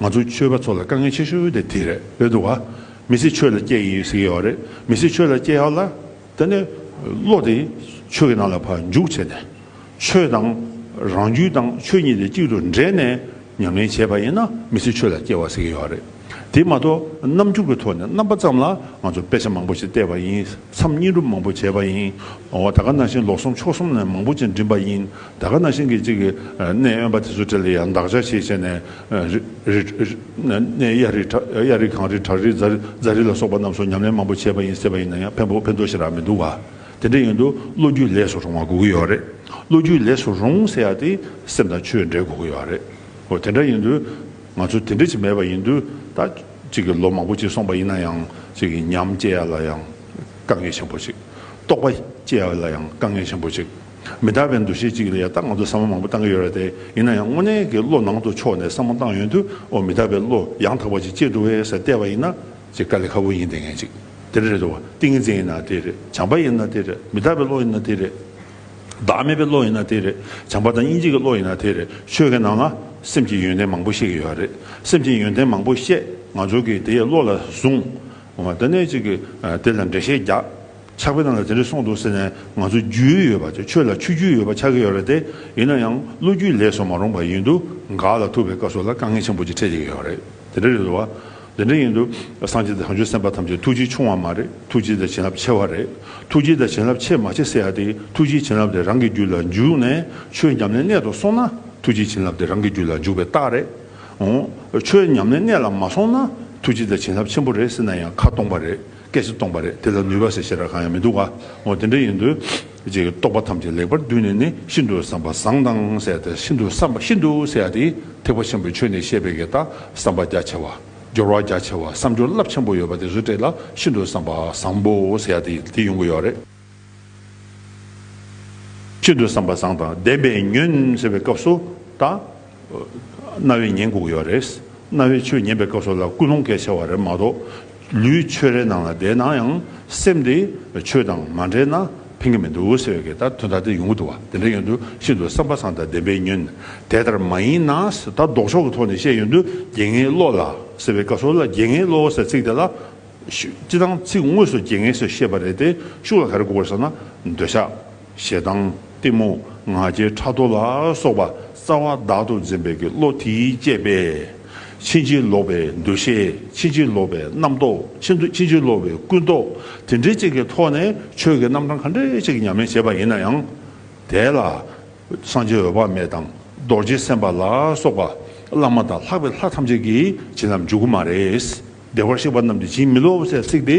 A: ང་ཚོ་ཆོས་པ་ཚོ་ལ་དཀའ་ངལ་ཆེ་ཤོས་དེ་དེ་རེད་བས་འདུག་བ། མི་སེར་ཆོས་ལ་སྐྱེས་ཡིན་ཟེར་གྱི་ཡོད་རེད་མི་སེར་ཆོས་ལ་སྐྱེས་ཡག་ལ། དེ་ནས་བློ་དེ་ཆོས་ཀྱི་ནང་ལ་བར་འཇུག་བྱས་ནས། ཆོས་དང་རང་རྒྱུད་དང་ཆོས་གཉིས་དེ་གཅིག་ཏུ་འདྲེས་ནས་མྱ་ངན་བྱས་པ་ཡིན་ན་མི་ཚེ་ཆོས་ལ་སྐྱེལ་བ་ཟེར་གྱི་ཡོད་རེད། དེ་མ་གཏོགས་རྣམ་འགྱུར་གྱི་ཐོག་ནས་རྣམ་པ་ཙམ་ལ་ང་ཚོ་དཔེ་ཆ་མང་པོ་ཞིག་བལྟས་པ་ཡིན་མཚམས་སྙིང་སྒྲུབ་མང་པོ་བྱས་པ་ཡིན། འོ་ད་ག་ན་ཤིང་ལོག་གསུམ་ཕྱོགས་གསུམ་ནས་མང་པོ་ཅིག་འགྲིམས་པ་ཡིན་ད་ག་ན་ཤིང་གི་གཅིག་གནས་དབེན་པ་དེ་ཚོ་དེ་ལ་ཡང་འདག་ཆ་ཞིག་བྱས་ནས་གནས་གཡའ་རི་གངས་རི་བྲག་རི་རྫ་རི་ལ་སོགས་པ་རྣམས་སུ་ཉམས་ལེན་མང་པོ་བྱས་པ་ཡིན་ཟེར་བ་ཡིན་ན་ཡང་ཕན་ཐོགས་ཤིག་རག་མི་འདུག་བ། དེ་འདྲ་ཡིན་དུས་བློ་རྒྱུས་ལས་སུ་རུང་བ་དགོས་ཀྱི་ཡོད་རེད། བློ་རྒྱུས་ལས་སུ་རུང་ཟེར་ཡག་དེ་སེམས་དང་ཆོས་འབྲེལ་དགོས་ཀྱི་ཡོད་རེད། ཨོ་དེ་འདྲ་ཡིན་དུས་ང་ཚོ་དེ་འདྲ་ཞིག་མེད་པ་ཡིན་དུས་ད་ཅིག་གི་ལོ་མང་པོ་ཅིག་སོང་པ་ཡིན་ན་ཡང་ཅིག་གི་ཉམས་སྐྱེ་ཡག་ལ་ཡང་དཀའ་ངལ་ཆེན་པོ་ཅིག། རྟོགས་པ་སྐྱེ་ཡག་ལ་ཡང་དཀའ་ངལ་ཆེན་པོ་ཅིག། མི་དག་པའི་འདུ་ཤེས་ཅིག་ལ་ཡང་ད་ང་ཚོ་བསམ་བློ་མང་པོ་བཏང་གི་ཡོད་རེད་དེ་ཡིན་ན་ཡང་དངོས་གནས་ཀྱི་བློ་ནང་དུ་ཕྱོགས་ནས་བསམ་བློ་བཏང་ཡོད་དུས་ཨོ་མི་དག་པའི་བློ་ཡང་དག་པ་ཅིག་སྐྱེ་འགྲོ་བས་ཟེར་བལྟས་པ་ཡིན་ན། ཅེས་དཀའ་ལས་ཁ་བོ་ཡིན་དེ་ངན་ཅིག་དེ་རེད་དོ། ཏིང་ངེ་འཛིན་ཡིན་ན་དེ་རེད་བྱམས་པ་ཡིན་ན་དེ་རེད་མི་རྟག་པའི་བློ་ཡིན་ན་དེ་རེད། བདག་མེད་པའི་བློ་ཡིན་ན་དེ་རེད་བྱམས་པ་དང་དབྱིན་ཇིག་གི་བློ་ཡིན་ན་དེ་རེད་ཆོས་ཀྱི་ནང་ན་སེམས་ཀྱི་ཡོན་ཏན་མང་པོ་བཤད་ཀྱི་ཡོད་རེད་སེམས་ཀྱི་ཡོན་ཏན་མང་པོ་བཤད་ང་ཚོ་གིས་དེ་བློ་ལ་བཟུང། དེ་ནས་ཅིག་དེ་ལ་འགྲེལ་བཤད་རྒྱག་ཆགས་པའི་ནང་ལ་དེ་འདྲ་གསུངས་འདུག་ཟེར་ནས་ང་ཚོ་རྒྱུས་ཡོད་པ་ཆོས་ལ་ཆུ་རྒྱུས་ཡོད་པ་ཆགས་ཀྱི་ཡོད་རེད་དེ་ཡིན་ན་ཡང་བློ་རྒྱུས་ལས་སོ་མ་རུང་པ་ཡིན་འདུག་འགག་ལ་ཐུག་པའི་སྐབས་སོགས་ལ་དཀའ་ངལ་ཆེན་པོ་ཅིག་འཕྲད་ཀྱི་ཡོད་རེད་དེ་རེད་དོ། དེ་འདྲ་ཡིན་དུས་སངས་རྒྱས་བྱང་ཆུབ་སེམས་དཔའ་ཐམས་ཅད་ཐུགས་རྗེ་ཆུང་བ་མ་རེད་ཐུགས་རྗེ་དང་བྱིན་རླབས་ཆེ་བ་རེད་ཐུགས་རྗེ་དང་བྱིན་རླབས་ཆེ་མ་ཆེ་ཟེར་ཡག་དེ་ཐུགས་རྗེ་བྱིན་རླབས་དེ་རང་གི་རྒྱུད་ལ་འཇུག་ནས་ཆོས་ཉམས་ལེན་གནད་དུ་སོང་ན་ཐུགས་རྗེ་བྱིན་རླབས་དེ་རང་གི་རྒྱུད་ལ་འཇུག་པའི་རྟགས་རེད་འོང། ཆོས་ཉམས་ལེན་གནད་ལ་མ་སོང་ན་ཐུགས་རྗེ་དང་བྱིན་རླབས་ཆེན་པོ་རེད་ཟེར་ན་ཡང་ཁ་སྟོང་པ་རེད། སྐད་ཅིག་སྟོང་པ་རེད་དེ་ལ་ནུས་པ་ཞེས་བྱེད་སྒྲ་གང་ཡང་མི་འདུག་ག་འོ་དེ་འདྲ་ཡིན་དུས། ཅེས་རྟོག་པ་ཐམས་ཅད་ལེགས་པར་བསྡུས་ནས་ནི་ཤིན་ཏུ་བསམ་པ་བཟང་དང་བསྲེས་ཏེ་ཤིན་ཏུ་བསམ་པ་ཤིན་ཏུ་བསྲེས་ཏེ་ཐེག་པ་ཆེན་པོའི་ཆོས་ནི་བཤད་པའི་གེགས་དང་བསམ་པ་རྒྱ་ཆེ་བ། སྦྱོར་བ་རྒྱ་ཆེ་བ་བསམ་སྦྱོར་རླབས་ཆེན་པོ་ཡོད་པ་དེ་རུ་བཀྲལ་ལ་ཤིན་ཏུ་བསམ་པ་བཟང་པོ་བསྲེས་ཏེ་དེ་ཡོང་གི་ཡོད་རེད། ཤིན་ཏུ་བསམ་པ་བཟང་དང་ལྡན་པས་ཉོན་ཟེར་བའི་སྐབས་སུ་དང། རྣ་བས་ཉན་དགོས་ཀྱི་བ་རེད། རྣ་བས་ཆོས་ཉན་པའི་སྐབས་སུ་ལ་ཀུན་སློང་གལ་ཆེ་བ་རེད་མ་གཏོགས། ལུས་ཆོས་རའི་ནང་ལ་བསྡད་ན་ཡང་སེམས་དེ་ཆོས་དང་མ་འབྲེལ་ན་ཕན་གྱི་མི་འདུག་ཟེར་བའི་ལྟར་དོན་དག་དེ་ཡོང་གི་འདུག་བ་དེ་འདྲ་ཡོང་དུས་ཤིན་ཏུ་བསམ་པ་བཟང་དང་ལྡན་པས་ཉོན། དེ་ལྟར་མ་ཡིན་ན་ད་ལྡོག་ཕྱོགས་ཀྱི་ཐོག་ནས་བཤད་ཡོང་དུས་དགེ་བསྔལ་བློ་ལ་ཟེར་བའི་སྐབས་སུ་ལ་དགེ་བསྔལ་བློ་ཟེར་ཚིག་དེ་ལ་སྤྱི་དང་ཚིག་དངོས་སུ་རྒྱལ་ངེས་སུ་བཤད་པ་རེད་དེ་ཤུགས་ལ་གར་དགོས་ས་ན་འདོད་ཆགས། ཞེ་སྡང། གཏི་མུག། ང་རྒྱལ་ཕྲག་དོག་ལ་སོགས་པ་རྩ་བ་བདག་ཏུ་འཛིན་པའི་གི་བློ་དེའི་བསྐྱེད་པས། ཕྱིན་ཅི་ལོག་པའི་འདུ་ཤེས་ཕྱིན་ཅི་ལོག་པའི་རྣམ་རྟོག་ཕྱིན་ཅི་ལོག་པའི་ཀུན་རྟོག་དེ་འདྲའི་ཅིག་གི་ཐོག་ནས་ཆོས་ཀྱི་རྣམ་གྲངས་ག་འདྲའི་ཅིག་ཉམས་ལེན་བྱེད་པ་ཡིན་ན་ཡང། དེ་ལ། སངས་རྒྱས་འོད་དཔག་མེད་དང་རྡོ་རྗེ་སེམས་དཔའ་ལ་སོགས་པ་བླ་མ་དང་ལྷག་པའི་ལྷ་ཐམས་ཅད་ཀྱིས་བྱིན་རླབས་འཇུག་གི་མ་རེད། བདེ་བར་གཤེགས་པ་རྣམས་ཀྱིས་བྱིན་མི་རློབ་བོ་ཞེས་གཟིགས་ཏེ།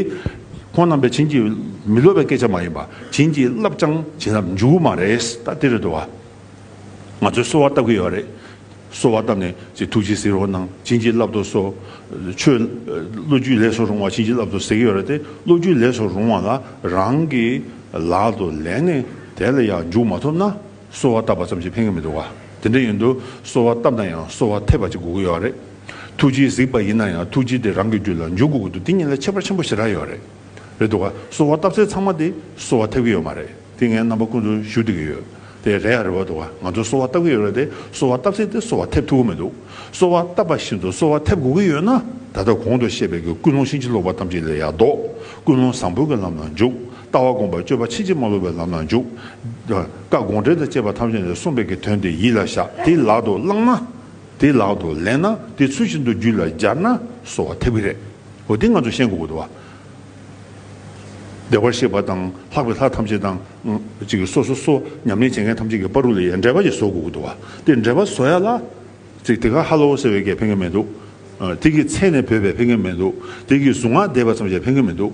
A: ཁོང་རྣམས་པས་བྱིན་གྱིས་མི་རློབ་པའི་སྐད་ཆ་མ་ཡིན་པ་བྱིན་གྱིས་བརླབས་ཀྱང་བྱིན་རླབས་འཇུག་མ་རེད་ད་དེ་རེད་དོ། ང་ཚོས་གསོལ་བ་བཏབ་ཀྱི་ཡོད་རེད། གསོལ་བ་བཏབ་ནས་ཅི་ཐུགས་རྗེས་གཟིགས་རོགས་གནང་བྱིན་གྱིས་བརླབ་ཏོ་སོ། ཆོས་བློ་རྒྱུད་ལས་སུ་རུང་བ་བྱིན་གྱིས་བརླབ་ཏོ་ཟེར་གྱི་ཡོད་རེད་དེ་བློ་རྒྱུད་ལས་སུ་རུང་བ་ལ་རང་གི་ལག་ཏུ་ལེན་ནས་དེ་ལ་ཡང་འཇུག་མ་ཐུབ་ན་གསོལ་བ་བཏབ་པ་ཙམ་གྱིས་ཕན་གྱི་མི་འདུག་བ་དེ་འདྲ་ཡིན་དུ་གསོལ་བ་བཏབ་ན་ཡང་གསོལ་བ་འཐད་པ་ཅིག་དགོས་ཀྱི་ཡོད་རེད། ཐུགས་རྗེས་གཟིགས་པ་ཡིན་ན་ཡང་ཐུགས་རྗེ་དེ་རང་གི་རྒྱུད་ལ་འཇུག་དགོས་དགོས་འདུག་དེ་ཉིད་ལ་ཁྱད་པར་ཆེན་པོ་ཞེ་དྲག་ཡོད་རེད། རེད་འདུག་ག་གསོལ་བ་བཏབ་ཚེ་ཚང་མ་དེ་གསོལ་བ་ཐེབས་ཀྱི་ཡོད་མ་རེད་དེ་ངའི་རྣམ་པ་ཀུན་ཏུ་བཞུགས་བསྡད་ཀྱི་ཡོད་དེ་རེད་ཡ་རེད་བ་འདུག་ག་ང་ཚོ་གསོལ་བ་བཏབ་ཀྱི་ཡོད་རེད་དེ་གསོལ་བ་བཏབ་ཚེ་དེ་གསོལ་བ་ཐེབས་ཐུབ་ཀྱི་མི་འདུག་གསོལ་བ་བཏབ་པ་བཞིན་དུ་གསོལ་བ་ཐེབས་དགོས་ཀྱི་ཡོད་ན་ད་ལྟ་གོང་དུ་བཤད་པའི་གི་ཀུན་སློང་ཕྱིན་ཅི་ལོག་པ་ཐམས་ཅད་ལས་ཡར་ལྡོག་ཀུན་སློང་བཟང་པོའི་གི་ལམ་ལ་འཇུག་ལྟ་བ་སྒོམ་པ་སྤྱོད་པ་ཕྱིན་ཅི་མ་ལོག་པའི་ལམ་ལ་འཇུག་བཀའ་དགོངས་འགྲེལ་དང་བཅས་པ་ཐམས་ཅད་ལས་གསུངས་པའི་གི་དོན་དེ་ཡིད་ལ་བཞག་དེ་ལག་ཏུ་བླངས་ན། དེ་ལག་ཏུ་ལེན་ན་དེ་ཚུལ་བཞིན་དུ་རྒྱུད་ལ་སྦྱར་ན་གསོ་བ་ཐེབས་ཀྱི་རེད། འོ་དེ་ང་ཚོ་ཤེས་དགོས་དགོས་བ། བདེ་བར་གཤེགས་པ་དང་ལྷག་པའི་ལྷ་ཐམས་ཅད་དང། གཅིག་སོ་སོ་སོ་ཉམས་ལེན་བྱེད་མཁན་ཐམས་ཅད་ཀྱི་དཔའ་རུ་ལ་ཡའི་འགྲེལ་པ་ཞིག་བཟོ་དགོས་དགོས་བ། དེ་འགྲེལ་པ་བཟོ་ཡ་ལ། གཅིག་དེ་ག་ཧ་ལོ་ཟེར་བའི་སྐད་ཕན་མཁན་མེད་འདུག། དེ་གི་མཚན་ནས་བོས་པའི་ཕན་མཁན་མེད་འདུག་དེ་གི་གཟུངས་སྔགས་བཟླས་པ་ཙམ་བྱས་ཕན་མཁན་མེད་འདུག།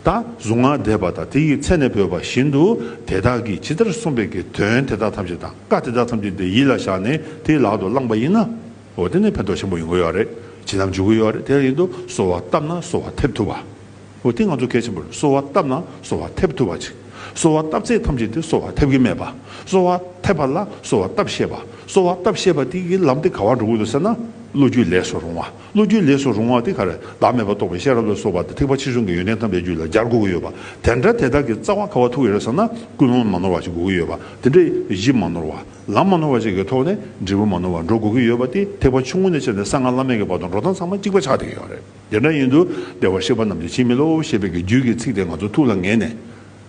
A: དང་གཟུངས་སྔགས་བཟླས་པ་དང་དེ་ཡི་ཚད་ནས་བོས་པ་བཞིན་དུ་དེ་དག་གིས་ཇི་ལྟར་གསུངས་པའི་དགེ་དོན་དེ་དག་ཐམས་ཅད་དང་བཀའ་དེ་དག་ཐམས་ཅད་དེ་ཡིད་ལ་བཞག་ནས་དེ་ལག་ཏུ་བླངས་པ་ཡིན་ན། འོ་དེ་ནི་ཕན་ཐོགས་ཆེན་པོ་ཡོང་གི་ཡོད་རེད་བྱིན་རླབས་འཇུག་གི་ཡོད་རེད་དེར་ཡིན་དུ་གསོལ་བ་བཏབ་ན་གསོལ་བ་ཐེབས་ཐུབ་པ། འོ་དེ་ང་ཚོ་གལ་ཆེན་པོ་རེད་གསོལ་བ་བཏབ་ན་གསོལ་བ་ཐེབས་ཐུབ་པ་ཅིག་གསོལ་བ་བཏབ་ཚད་ཐམས་ཅད་དེ་གསོལ་བ་ཐེབས་ཀྱི་མེད་པ། གསོལ་བ་ཐེབས་པ་ལ་གསོལ་བ་བཏབ་ཤེས་པ་གསོལ་བ་བཏབ་ཤེས་པ་དེ་ཡི་ལམ་དེ་ག་བར་འགྲོ་གི་འདུག་ཟེར་ན་བློ་རྒྱུས་ལེགས་སུ་རུང་བ། བློ་རྒྱུད་ལས་སུ་རུང་བ་དེ་གར་བདག་མེད་པར་རྟོགས་པའི་ཤེས་རབ་ལ་སོགས་པ་དང་ཐེག་པ་ཕྱི་བྱུང་གི་ཡོན་ཏན་དམ་པའི་རྒྱུད་ལ་སྦྱར་དགོས་ཀྱི་ཡོད་པ་དེ་འདྲ་དེ་དག་གི་རྩ་བ་ཁ་བ་ཐུག་ཡོད་ས་ན་ཀུན་སློང་མ་ནོར་བ་ཞིག་དགོས་ཀྱི་ཡོད་པ་དེ་འདྲ་གཞི་མ་ནོར་བ་ལམ་མ་ནོར་བ་ཞིག་གི་ཐོག་ནས་འབྲས་བུ་མ་ནོར་བར་འགྲོ་དགོས་ཀྱི་ཡོད་པ་དེ་ཐེག་པ་ཆུང་ངུ་ནས་ཕྱེ་ནས་གསང་སྔགས་བླ་མེད་ཀྱི་བར་དུ་འགྲོ་སྟངས་ཚང་མ་གཅིག་པ་ཆགས་བསྡད་ཀྱི་ཡོད་རེད་དེ་འདྲ་ཡིན་དུ་བདེ་བར་གཤེགས་པ་རྣམས་ཀྱི་འཆི་མེད་བློའོ་ཞེས་པའི་གི་རྒྱུད་ཀྱི་ཚིག་དེ་ང་ཚོ་ཐུགས་ལ་ངེས་ནས་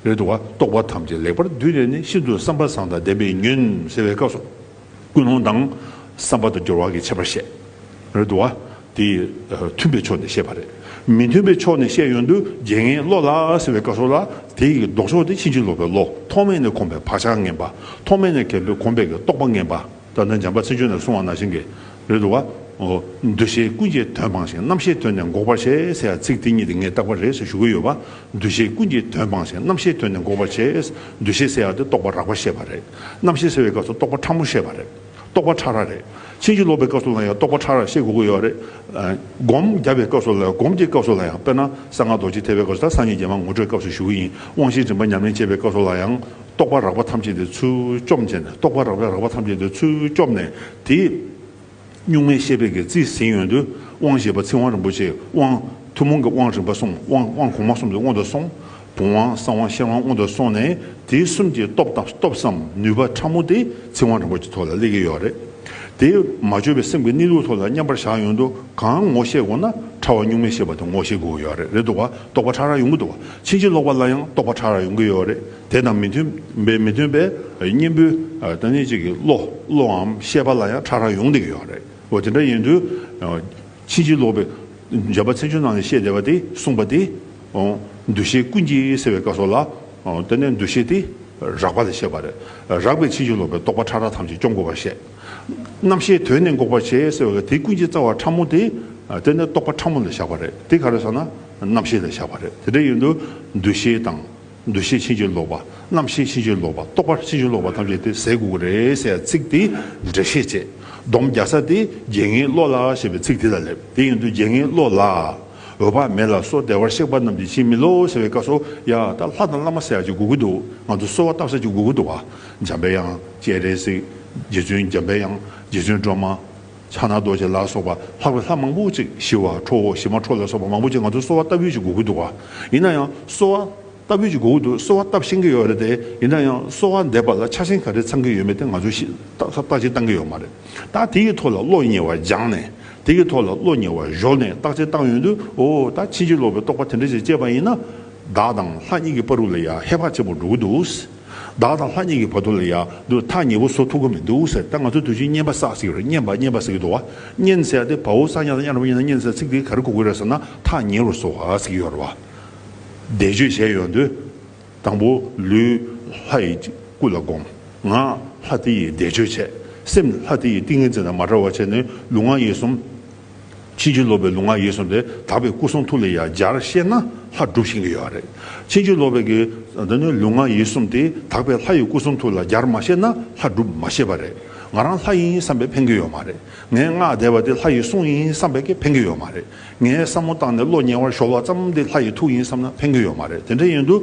A: རེད་འདུག་བ་རྟོགས་པ་ཐམས་ཅད་ལེགས་པར་བསྡུས་ནས་ནི་ཤིན་ཏུ་བསམ་པ་བཟང་དང་ལྡན་པའི་ཉོན་ཟེར་བའི་སྐབས་སུ། ཀུན་སློང་དང། བསམ་པ་དང་སྦྱོར་བ་གྱི་ཁྱད་པར་བཤད། རེད་དོ། དེ་མཐུན་པའི་ཕྱོགས་ནས་བཤད་པ་རེད། མི་མཐུན་པའི་ཕྱོགས་ནས་བཤད་ཡོན་དུ་རྒྱལ་ངའི་བློ་ལ་ཟེར་བའི་བཀའ་སྲོལ་ལ། དེ་ཡི་ལྡོག་ཕྱོགས་དེ་ཕྱིན་ཅི་ལོག་པའི་བློ་ཐོག་མེད་ནས་གོམས་པའི་བག་ཆགས་ངན་པ། ཐོག་མེད་ནས་གལ་པའི་གོམས་པའི་རྟོག་པ་ངན་པ། ད་ནི་འཇམ་པ་ཚིག་ཆོས་ནས་གསུང་བ་ན་བཞིན་གྱི། རེད་དོ། འདུ་བྱེད་ཀུན་གྱི་དོན་སྤངས་ཤིང་རྣམ་ཤེས་དོན་ནི་འགོག་པར་བྱེད་ཟེར་བ་ཚིག་དེ་གཉིས་དེ་ངས་བཏགས་པ་རེད་ཟེར་ཞུ་གི་ཡོད་པ། འདུ་བྱེད་ཀུན་གྱི་དོན་སྤངས་ཤིང་རྣམ་ཤེས་དོན་ནི་འགོག་པར་བྱེད། འདུ་བྱེད་ཟེར་བ་དེ་རྟོག་པ་རགས་པར་བཤད་པ་རེད། རྣམ་ཤེས་ཟེར་བའི་སྐབས་སུ་རྟོག་པ་ཕྲ་མོ་བཤད་པ་རེད། རྟོག་པ་ཕྲ་རགས་རེད། ཕྱིན་ཅི་ལོག་པའི་སྐབས་སུ་ལ་ཡང་རྟོག་པ་ཕྲ་རགས་བཤད་དགོས་ཀྱི་ཡོད་རེད། སྒོམ་བརྒྱ་པའི་སྐབས་སུ་ལ་ཡང་སྒོམ་གྱི་སྐབས་སུ་ལ་ཡང་དཔེར་ན་གསང་སྔགས་རྡོ་རྗེ་ཐེག་པའི་སྐབས་སུ་དང་སངས་རྒྱས་རྒྱལ་མ་ངོ་སྤྲོད་སྐབས་སུ་ཞུ་གི་ཡིན་དབང་བཞིའི་རིམ་པ་ཉམས་ལེན་བྱེད་པའི་སྐབས་སུ་ལ་ཡང། རྟོག་པ་རགས་པ་ཐམས་ཅད་དེ་ཚུལ་བཅོམ་བྱས་ནས་རྟོག་པ་རགས་པའི་རགས་པ་ཐམས་ཅད་དེ་ཚུལ་བཅོམ་ནས་དེ། གཉུག་མའི་ཤེས་དཔལ་གྱི་རྩིས་ཟིན་ཡོན་དུ་དབང་བཞི་པ་ཚིག་དབང་རིན་པོ་ཆེའི་དབང། ཐུན་མོང་གི་དབང་རིམ་པ་གསུམ་དབང་དབང་གོང་མ་གསུམ་གྱི་དབང་དུ་སོང། བུམ་དབང་གསང་དབང་ཤེར་དབང་དབང་དུ་སོང་ནས་དེ་གསུམ་གྱི་སྟོབས་དང་སྟོབས་སམ་ནུས་པ་ཕྲ་མོ་དེ་ཚིག་དབང་རིན་པོ་ཆེ་ཐོག་ལ་སླེབས་ཀྱི་ཡོད་རེད། དེ་མ་བཅོས་པའི་སེམས་ཀྱི་གནས་ལུགས་ཐོག་ལ་མཉམ་པར་བཞག་ཡོན་དུ་གང་ངོ་ཤེས་དགོས་ན་ཕྲ་བ་གཉུག་མའི་ཤེས་པ་དེ་ངོ་ཤེས་དགོས་ཀྱི་ཡོད་རེད་དོ་བ་རྟོགས་པ་ཕྲ་རགས་ཡོང་གི་འདུག་བ་ཕྱིན་ཅི་ལོག་པ་ལ་ཡང་རྟོགས་པ་ཕྲ་རགས་ཡོང་གི་ཡོད་རེད་དེ་དང་མི་མཐུན་པའི་མི་མཐུན་པའི་གཉེན་པོའི་བདག་ཉིད་ཅིག་གི་བློ་བློའམ་ཤེས་པ་ལ་ཡང་ཕྲ་རགས་ཡོང་དེ་ཡོད་རེད་འོ་དེ་འདྲ་ཡིན་དུས་ཕྱིན་ཅི་ལོག་པའི་འཇལ་བ་ཚན་ཆུང་ནང་ནས་བཤད་བསྡད་པ་དེས་གསུངས་པ་དེ་འདུ་ཤེས་ཀུན་གྱི་ཟེར་བའི་བཀའ་སོགས་ལ་བལྟས་ནས་འདུ་ཤེས་དེ་རགས་པ་ལས་བཤད་པ་རེད་རགས་པའི་ཕྱིན་ཅི་ལོག་པའི་རྟོག་པ་ཕྲ་རགས་ཐམས་ཅད་སྐྱོང་དགོས་པར་བཤད་རྣམ་ཤེས་དོན་ནི་འགོག་པར་བྱེད་ཟེར་བ་ལ་དེ་ཀུན་གྱི་རྩ་བ་ཕྲ་མོ་དེ་བལྟས་ནས་རྟོག་པ་ཕྲ་མོ་ལ་བཞག་པ་རེད་དེ་ག་རེ་སོང་ན་རྣམ་ཤེས་ལ་བཞག་པ་རེད་དེ་འདྲ་ཡིན་དུས་འདུ་ཤེས་དང། འདུ་ཤེས་ཕྱིན་ཅི་ལོག་པ། རྣམ་ཤེས་ཕྱིན་ཅི་ལོག་པ། རྟོག་པ་ཕྱིན་ཅི་ལོག་པ་ཐམས་ཅད་དེ་ཟས་དགུ་དགུ་རེད་ཟེར་ཡང་ཚིག་དེ་འགྲེལ་བཤད་བྱེད་སྡོམ་རྒྱག་ས་དེ་རྒྱལ་ངའི་བློ་ལ་ཞེས་པའི་ཚིག་དེ་ལ་སླེབས་དེ་ཡིན་དུས་རྒྱལ་ངའི་བློ་ལ་འོད་དཔག་མེད་ལ་སོགས་བདེ་བར་གཤེགས་པ་རྣམས་ཀྱིས་ཕྱིན་མི་ལོག་ཟེར་བའི་བཀའ་སོ་ཡ་ད་ལྷ་དང་བླ་མ་ཟེར་ཡག་ཅིག་དགུ་དགུ་འདུག་ང་ཚོ་གསོལ་བ་བཏབ་ས་ཅིག་དགུ་དགུ་འདུག་བ་འཇམ་པའི་དབྱངས་ཅེས་རེད་ཟིག་རྗེ་བཙུན་འཇམ་པའི་དབྱངས་རྗེ་བཙུན་སྒྲོལ་མ། ཕྱག་ན་རྡོ་རྗེ་ལ་སོགས་པ་ལྷག་པའི་ལྷ་མང་པོ་ཅིག་ཞི་བ་ཁྲོ་བོ་ཞི་མ་ཁྲོ་ལ་སོགས་པ་མང་པོ་ཅིག་ང་ཚོ་གསོལ་བ་བཏབ་ཡོད་ཅེས་སྒུག་གི་འདུག་ག་ཡིན་ན་ཡང་གསོལ་བ་བཏབ་ཡོད་ཅེས་སྒུག་གི་འདུག་གསོལ་བ་བཏབ་ཤེས་ཀྱི་ཡོད་རེད་དེ་ཡིན་ན་ཡང་གསོལ་བ་འདེབས་པ་ལ་ཆགས་ཞེན་ག་རེ་ཚང་གི་ཡོད་མེད་དེ་ང་ཚོས་ཤེས་རྟགས་ཅིག་བཏང་གི་ཡོད་མ་རེད་ད་དེ་ཡི་ཐོག་ལ་བློ་ཉེ་བར་སྦྱངས་ནས་དེ་ཡི་ཐོག་ལ་བློ་ཉེ་བར་གཞོལ་ནས་བརྟག་དཔྱད་བཏང་ཡོང་དུས་འོ་ད་ཕྱིན་ཅི་ལོག་པའི་རྟོག་པ་དེ་འདྲ་ཞིག་སྐྱེས་པ་ཡིན་ན་བདག་དང་ལྷ་གཉིས་ཀྱི་པར་རུ་ལ་ཡང་ཧེ་བག་ཆེན་པོ་འགྲོ་གི་འདུག། བདག་དང་ལྷ་གཉིས་ཀྱི་བར་དོ་ལ་ཡང་དུ་ཐག་ཉེ་བོ་བཟོ་ཐུབ་ཀྱི་མི་འདུག་ཟེར་ད་ང་ཚོས་དུས་ཆེན་བསྙེན་པ་བསགས་ཟེར་གྱི་རེད་བསྙེན་པ་བསྙེན་པ་ཟེར་གྱི་འདུག་བ་བསྙེན་ཟེར་ཏེ་བ་འུ་ས་ཉག་དང་གཡག་རིན་པོ་ཆེ་ནང་བསྙེན་ཟེར་ཚིག་དེ་ག་རེ་གོ་དགོས་རེད་ཟེར་ན་ཐག་ཉེ་བོར་བཟོ་བ་ཟེར་གྱི་ཡོད་རེད་བ། བཟླས་བརྗོད་བྱས་ཡོང་དུས་དང་པོ་ལུས་ལྷ་ཡི་སྐུ་ལ་བསྒོམ། ངག་ལྷ་དེ་ཡི་བཟླས་བརྗོད་བྱས། སེམས་ལྷ་དེ་ཡི་ཏིང་ངེ་འཛིན་དང་མ་བྲལ་བར་བྱས་ནས་ལུས་ངག་ཡིད་གསུམ། ཕྱིན་ཅི་ལོག་པའི་ལུང་ང་ཡིན་གསུངས་ཏེ་དག་པའི་སྐུ་གསུང་ཐུགས་ལས་ཡང་སྦྱར་བཤད་ན་ལྷ་སྒྲུབ་བྱེད་ཀྱི་ཡོད་རེད། ཕྱིན་ཅི་ལོག་པའི་གི་འདི་ནི་ལུང་ང་ཡིན་གསུམ་ཏེ་དག་པའི་ལྷ་ཡི་སྐུ་གསུང་ཐུགས་ལ་སྦྱར་མ་བཤད་ན་ལྷ་སྒྲུབ་མ་ཤེས་པ་རེད། ང་རང་ལྷ་ཡིན་བསམ་པས་ཕན་གྱི་ཡོད་མ་རེད། ངས་སྔགས་བཟླས་པ་དེ་ལྷ་ཡི་གསུང་ཡིན་བསམ་པས་ཀྱི་ཕན་གྱི་ཡོད་མ་རེད། ངས་བསམ་མོ་བཏང་ནས་བློ་ཉེ་བར་ཞོག་བ་ཙམ་དེ་ལྷ་ཡི་ཐུགས་ཡིན་བསམ་ན་ཕན་གྱི་ཡོད་མ་རེད་དེ་འདྲ་ཡིན་དུ་